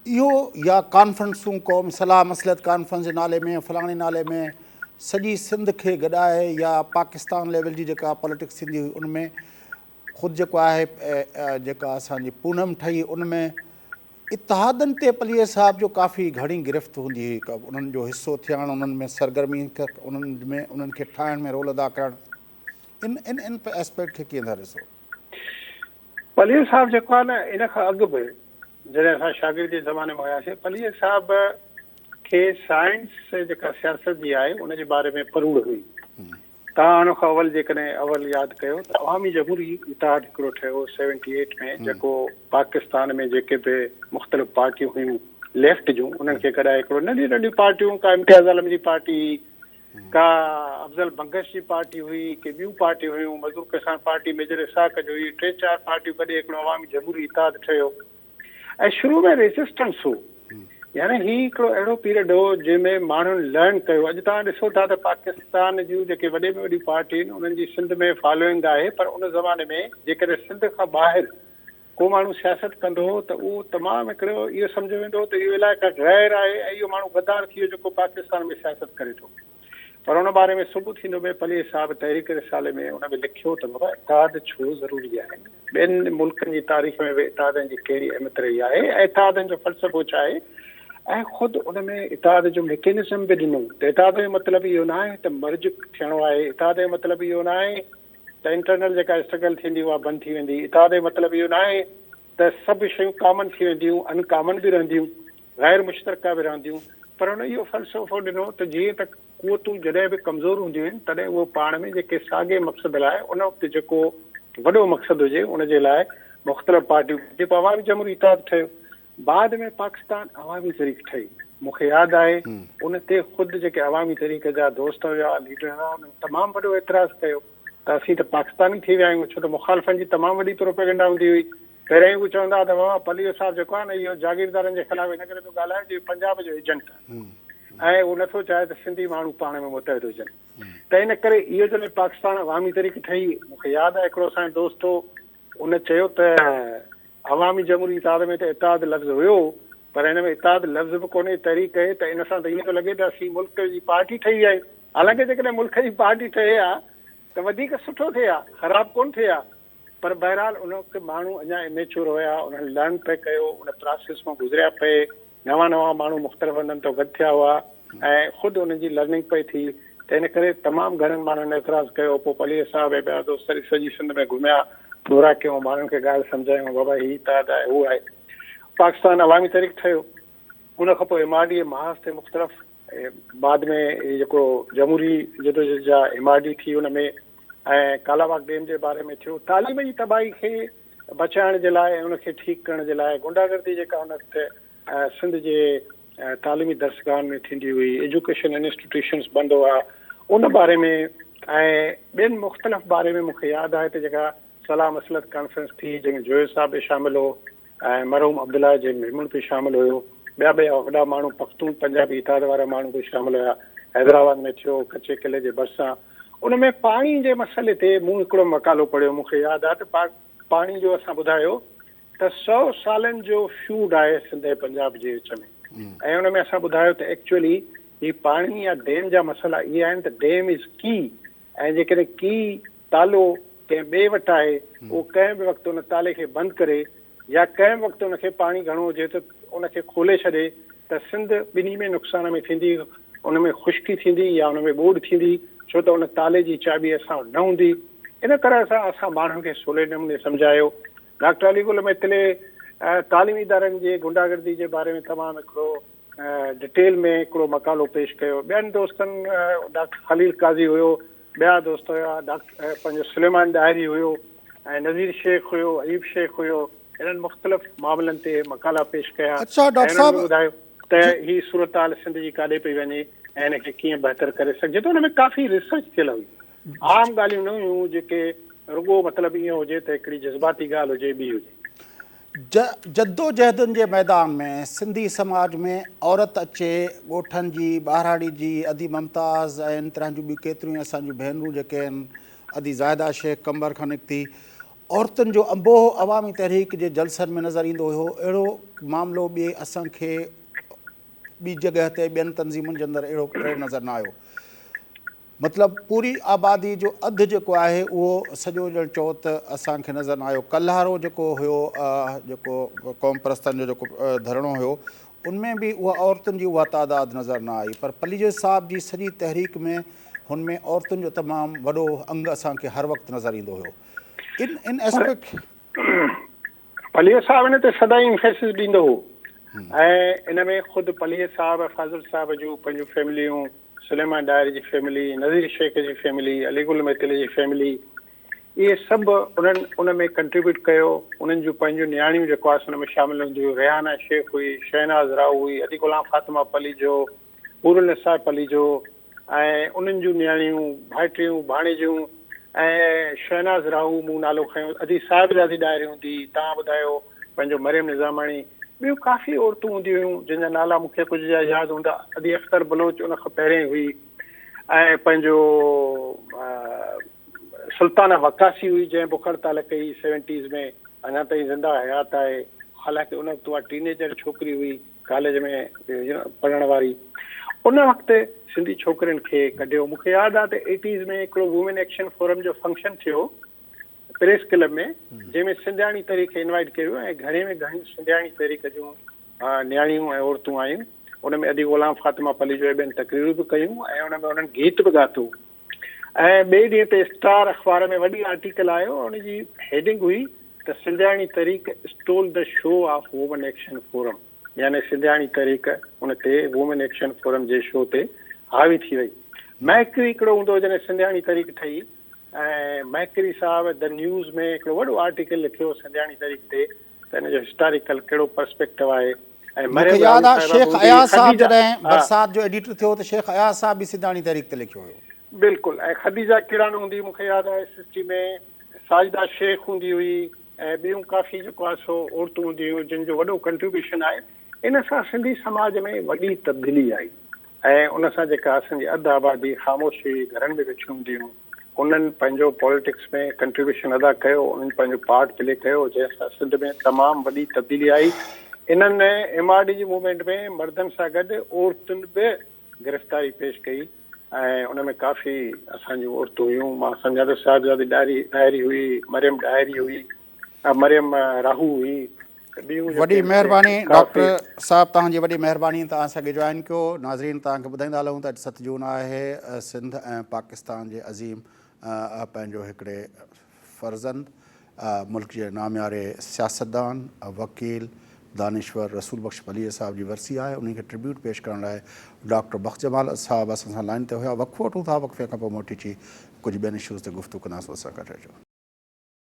اهو يا ڪانفرنسون قومي صلاح مصلحت ڪانفرنس جي نالي ۾ فلاڻي نالي ۾ سڄي سنڌ کي گڏائي يا پاڪستان ليول جي جيڪا پاليٽڪس ٿيندي هئي ان ۾ خود جيڪو آهي جيڪا اسان جي پونم ٺهي ان ۾ اتحادن تي پليجي صاحب جو ڪافي گهڻي گرفت هوندي هئي انهن جو حصو ٿيڻ انهن ۾ سرگرمي انهن ۾ انهن کي ٺاهڻ ۾ رول ادا ڪرڻ ان ان ان اسپيڪٽ کي ڪيئن ٿا ڏسو؟ پلير صاحب جيڪو آهي نه ان کان اڳ به جڏهن اسان شاگردي زماني ۾ هياسين پلير صاحب کي سائنس جيڪا سياست جي آهي ان جي باري ۾ پروڙ هئي توهان ان کان اول جيڪڏهن اول ياد ڪيو ته عوامي جمهوري اتحاد هڪڙو ٺهيو سيونٽي ايٽ ۾ جيڪو پاڪستان ۾ جيڪي به مختلف پارٽيون هيون ليفٽ جون انهن کي گڏائي هڪڙو ننڍيون ننڍيون پارٽيون ڪا امتياز عالم جي پارٽي ڪا افضل بنگش جي پارٽي هئي، ڪي ٻيون پارٽيون هيون، مزدور ڪسان پارٽي ميجر اسحاق جو هئي، ٽي چار پارٽيون گڏي هڪڙو عوامي جمهوري اتحاد ٺهيو ۽ شروع ۾ ريزسٽنس هو، يعني هي هڪڙو اهڙو پيريڊ هو جنهن ۾ ماڻهن لرن ڪيو، اڄ توهان ڏسو ٿا ته پاڪستان جون جيڪي وڏي ۾ وڏيون پارٽيون آهن انهن جي سنڌ ۾ فالوئنگ آهي پر ان زماني ۾ جيڪڏهن سنڌ کان ٻاهر ڪو ماڻهو سياست ڪندو هو ته اهو تمام هڪڙو اهو سمجهيو ويندو هو ته اهو علائقه غير آهي ۽ اهو ماڻهو غدار ٿي ويو جيڪو پاڪستان ۾ سياست ڪري ٿو پر ان باري ۾ سڀ ٿيندو مير پليجي صاحب تحريڪ رسالي ۾ ان ۾ لکيو ته بابا اتحاد ڇو ضروري آهي ٻين ملڪن جي تاريخ ۾ به اتحادن جي ڪهڙي اهميت رهي آهي ۽ اتحادن جو فلسفو ڇا آهي ۽ خود ان ۾ اتحاد جو ميڪينزم به ڏنو ته اتحاد جو مطلب اهو ناهي ته مرج ٿيڻو آهي اتحاد جو مطلب اهو ناهي ته انٽرنل جيڪا اسٽرگل ٿيندي اها بند ٿي ويندي اتحاد جو مطلب اهو ناهي ته سڀ شيون ڪامن ٿي وينديون ان ڪامن به رهنديون غير مشترڪه به رهنديون پر هن اهو فلسفو ڏنو ته جيئن ته قوتون جڏهن به ڪمزور هونديون آهن تڏهن اهو پاڻ ۾ جيڪي ساڳئي مقصد لاء ان وقت جيڪو وڏو مقصد هجي ان جي لاء مختلف پارٽيون جيڪو عوامي جمهوري اتحاد ٺهيو بعد ۾ پاڪستان عوامي تحريڪ ٺهي. مون کي ياد آهي ان تي خود جيڪي عوامي تحريڪ جا دوست هيا، ليڊر هيا، انهن تمام وڏو اعتراض ڪيو ته اسين ته پاڪستاني ٿي ويا آهيون ڇو ته مخالفن جي تمام وڏي پروپيگنڊا هوندي هئي. پهريائين هو چوندا هئا ته ماما پليو صاحب جيڪو آهي نه اهو جاگيردارن جي خلاف ان ڪري ٿو ڳالهائي جو هي پنجاب جو ايجنٽ آهي ۽ هو نه ٿو چاهي ته سنڌي ماڻهو پاڻ ۾ متحد هجن ته ان ڪري اهو جڏهن پاڪستان عوامي تحريڪ ٺهي مون کي ياد آهي هڪڙو اسان جو دوست هو هن چيو ته عوامي جمهوري اتحاد ۾ ته اتحاد لفظ هيو پر هن ۾ اتحاد لفظ به ڪونهي تحريڪ هي ته ان سان ته ائين ٿو لڳي ته اسين ملڪ جي پارٽي ٺهي ويا آهيون حالانڪه جيڪڏهن ملڪ جي پارٽي ٺهي ها ته وڌيڪ سٺو ٿئي ها خراب ڪونه ٿئي ها پر بهرحال ان وقت ماڻهو اڃا اميچور هيا انهن لرن پئي ڪيو ان پراسيس مان گذريا پئي نوان نوان ماڻهو مختلف هنڌن تان گڏ ٿيا هئا ۽ خود انهن جي لرننگ پئي ٿي ته ان ڪري تمام گهڻن ماڻهن اعتراض ڪيو پوء پليجي صاحب ۽ ٻيا دوست سڄي سڄي سنڌ ۾ گهميا دورا ڪيون ماڻهن کي ڳالهه سمجهايون بابا هي اتحاد آهي هو آهي پاڪستان عوامي تحريڪ ٺهيو ان کان پوء ايم آر ڊي اي محاذ تي مختلف بعد ۾ هي جيڪو جمهوري جدوجهد جا ايم آر ڊي ٿي ان ۾ ۽ ڪالاباغ ڊيم جي باري ۾ ٿيو تعليم جي تباهي کي بچائڻ جي لاء ان کي ٺيڪ ڪرڻ جي لاء غنڊا گردي جيڪا ان وقت سنڌ جي تعليمي درسگاهن ۾ ٿيندي هئي ايجوڪيشن انسٽيٽيوشنس بند هئا ان باري ۾ ۽ ٻين مختلف باري ۾ مونکي ياد آهي ته جيڪا صلاح مصلحت ڪانفرنس ٿي جنهن ۾ جويو صاحب به شامل هو ۽ مرحوم عبدالله جي ميمڻ به شامل هيو ٻيا به وڏا ماڻهو پختون پنجابي اتحاد وارا ماڻهو به شامل هيا حيدرآباد ۾ ٿيو ڪچي قلعي جي ڀرسان ان ۾ پاڻي جي مسئلي تي مون هڪڙو مقالو پڙهيو مون کي ياد آ ته پاڪ پاڻي جو اسان ٻڌايو ته سو سالن جو فيوڊ آهي سنڌ ۽ پنجاب جي وچ ۾ ۽ ان ۾ اسان ٻڌايو ته ايڪچولي هي پاڻي يا ڊيم جا مسئلا اهي آهن ته ڊيم از ڪي ۽ جيڪڏهن ڪي، تالو، ڪنهن ٻئي وٽ آهي، اهو ڪنهن به وقت ان تالي کي بند ڪري يا ڪنهن به وقت ان کي پاڻي گهڻو هجي ته ان کي کولي ڇڏي ته سنڌ ٻنهي ۾ نقصان ۾ ٿيندي، ان ۾ خشڪي ٿيندي يا ان ۾ ٻوڏ ٿيندي، ڇو ته ان تالي جي چاٻي اسان وٽ نه هوندي. ان طرح سان اسان ماڻهن کي سولي نموني سمجهايو. ڊاڪٽر علي گل ميتلي تعليمي ادارن جي غنڊا گردي جي باري ۾ تمام هڪڙو ڊٽيل ۾ هڪڙو مقالو پيش ڪيو. ٻين دوستن ڊاڪٽر خليل قاضي هيو، ٻيا دوست هيا ڊاڪٽر پنهنجو سليمان ڏاهري هيو ۽ نذير شيخ هيو، ايوب شيخ هيو، هنن مختلف معاملن تي مقالا پيش ڪيا ۽ هنن به ٻڌايو ته هي صورتحال سنڌ جي ڪاڏي پئي وڃي ۽ هن کي ڪيئن بهتر ڪري سگهجي ٿو، ان ۾ ڪافي ريسرچ ٿيل هئي، عام ڳالهيون نه هيون جيڪي رڳو مطلب ايئن هجي ته هڪڙي جذباتي ڳالهه هجي ٻي هجي. جدوجهدن جي ميدان ۾ سنڌي سماج ۾ عورت اچي ڳوٺن جي ٻاهراڙي جي ادي ممتاز ۽ ان طرح جون ٻيون ڪيتريون ئي اسان جون ڀينرون جيڪي آهن ادي زاهده شيخ قمبر کان نڪتي عورتن جو انبوهه عوامي تحريڪ جي جلسن ۾ نظر ايندو هيو اهڙو معاملو ٻئي اسان کي ٻي جڳهه تي ٻين تنظيمن جي اندر اهڙو ڪڏهن نظر نه آيو مطلب پوري آبادي جو اڌ جيڪو آهي اهو سڄو ڄڻ چئو ته اسان کي نظر نه آيو. ڪلهارو جيڪو هيو جيڪو قوم پرستن جو جيڪو ڌرڻو هيو ان ۾ به اها عورتن جي اها تعداد نظر نه آئي پر پليجو صاحب جي سڄي تحريڪ ۾ هن ۾ عورتن جو تمام وڏو انگ اسان کي هر وقت نظر ايندو هيو ان ان اسپيڪ پليجو صاحب هن تي سدائين امفيسس ڏيندو هو ۽ ان ۾ خود پليجو صاحب ۽ فاضل صاحب جون پنهنجون فيمليون سليمان ڏاهر جي فيملي نذير شيخ جي فيملي علي گل ميتل جي فيملي اهي سڀ انهن ان ۾ ڪنٽريبيوٽ ڪيو انهن جون پنهنجون نياڻيون جيڪو آس ان ۾ شامل هونديون ريحانا شيخ هئي شهناز راهو هئي علي غلام فاطمه پليجو حور النساء پليجو ۽ انهن جون نياڻيون، ڀائٽيون، ڀاڻيجيون ۽ شهناز راهو مون نالو کنيو ادي صاحبزادي ڏاهري هوندي هئي، تان ٻڌايو پنهنجو مريم نظاماڻي، ٻيون ڪافي عورتون هونديون هيون جن جا نالا مون کي ڪجهه جا ياد هوندا ادي اختر بلوچ ان کان پهرين هئي ۽ پنهنجو سلطانه وقاصي هئي جنهن بکر تعلق ڪئي سيونٽيز ۾ اڃا تائين زنده حيات آهي حالانڪه ان وقت اها ٽينيجر ڇوڪري هئي. ڪاليج ۾ پڙهڻ واري ان وقت سنڌي ڇوڪرين کي ڪڍيو مونکي ياد آ ته ايٽيز ۾ هڪڙو وومين ايڪشن فورم جو فنڪشن ٿيو پريس ڪلب ۾ جنهن ۾ سنڌياڻي تحريڪ کي انوائيٽ ڪيو ۽ گهڻي ۾ گهڻي سنڌياڻي تحريڪ جون نياڻيون ۽ عورتون آيون ان ۾ ادي غلام فاطمه پليجو ٻين تقريرون به ڪيون ۽ ان ۾ انهن گيت به ڳاتو ۽ ٻئي ڏينهن تي اسٽار اخبار ۾ وڏي آرٽيڪل آيو ۽ ان جي هيڊنگ هئي ته سنڌياڻي تحريڪ stole the show of women action forum يعني سنڌياڻي تحريڪ ان تي وومن ايڪشن فورم جي شو تي حاوي ٿي وئي. مهڪري هڪڙو هوندو هو جڏهن سنڌياڻي تحريڪ ٺهي ۽ مهڪري صاحب دي نيوز ۾ هڪڙو وڏو آرٽيڪل لکيو سنڌياڻي تحريڪ تي ته ان جو هسٽاريڪل ڪهڙو پرسپيڪٽو آهي ۽ مرحيم راوي صاحبه هوندي شيخ اياز صاحب جڏهن برسات جو ايڊيٽر ٿيو ته شيخ اياز صاحب به سنڌاڻي تحريڪ تي لکيو هيو. بلڪل ۽ خديجه ڪيڙاڻ هوندي مون کي ياد آهي S S T ۾ Sajida Shaikh هوندي هئي ۽ ٻيون ڪافي جيڪو آهي سو عورتون هوندي هيون جن جو وڏو ڪنٽريبيوشن آهي. ان سان سنڌي سماج ۾ وڏي تبديلي آئي ۽ ان سان جيڪا اسان جي اڌ آبادي خاموش هئي، گهرن ۾ ويٺيون هونديون هيون، انهن پنهنجو پاليٽڪس ۾ ڪنٽريبيوشن ادا ڪيو، انهن پنهنجو پارٽ پلي ڪيو، جنهن سان سنڌ ۾ تمام وڏي تبديلي آئي. انهن ايم آر ڊي جي موومينٽ ۾ مردن سان گڏ عورتن به گرفتاري پيش ڪئي ۽ ان ۾ ڪافي اسان جون عورتون هيون، مان سمجهان ٿو شاهدزادي ڏاهري هئي، مريم ڏاهري هئي، مريم راهو هئي. وڏي مهرباني ڊاڪٽر صاحب توهان جي وڏي مهرباني ته اسان کي جوائن ڪيو ناظرين توهان کي ٻڌائيندا هلون ته اڄ ست جون آهي سنڌ ۽ پاڪستان جي عظيم پنهنجو هڪڙي فرزند ملڪ جي نامياري سياستدان وڪيل دانشور رسول بخش پليجي صاحب جي ورسي آهي انهي کي ٽربيوٽ پيش ڪرڻ لاء ڊاڪٽر بخش جمال صاحب اسان سان لائن تي هيا وقفو وٺون ٿا وقفي کان پوء موٽي چي ڪجهه ٻين اشوز تي گفتگو ڪنداسون اسان گڏ رهجو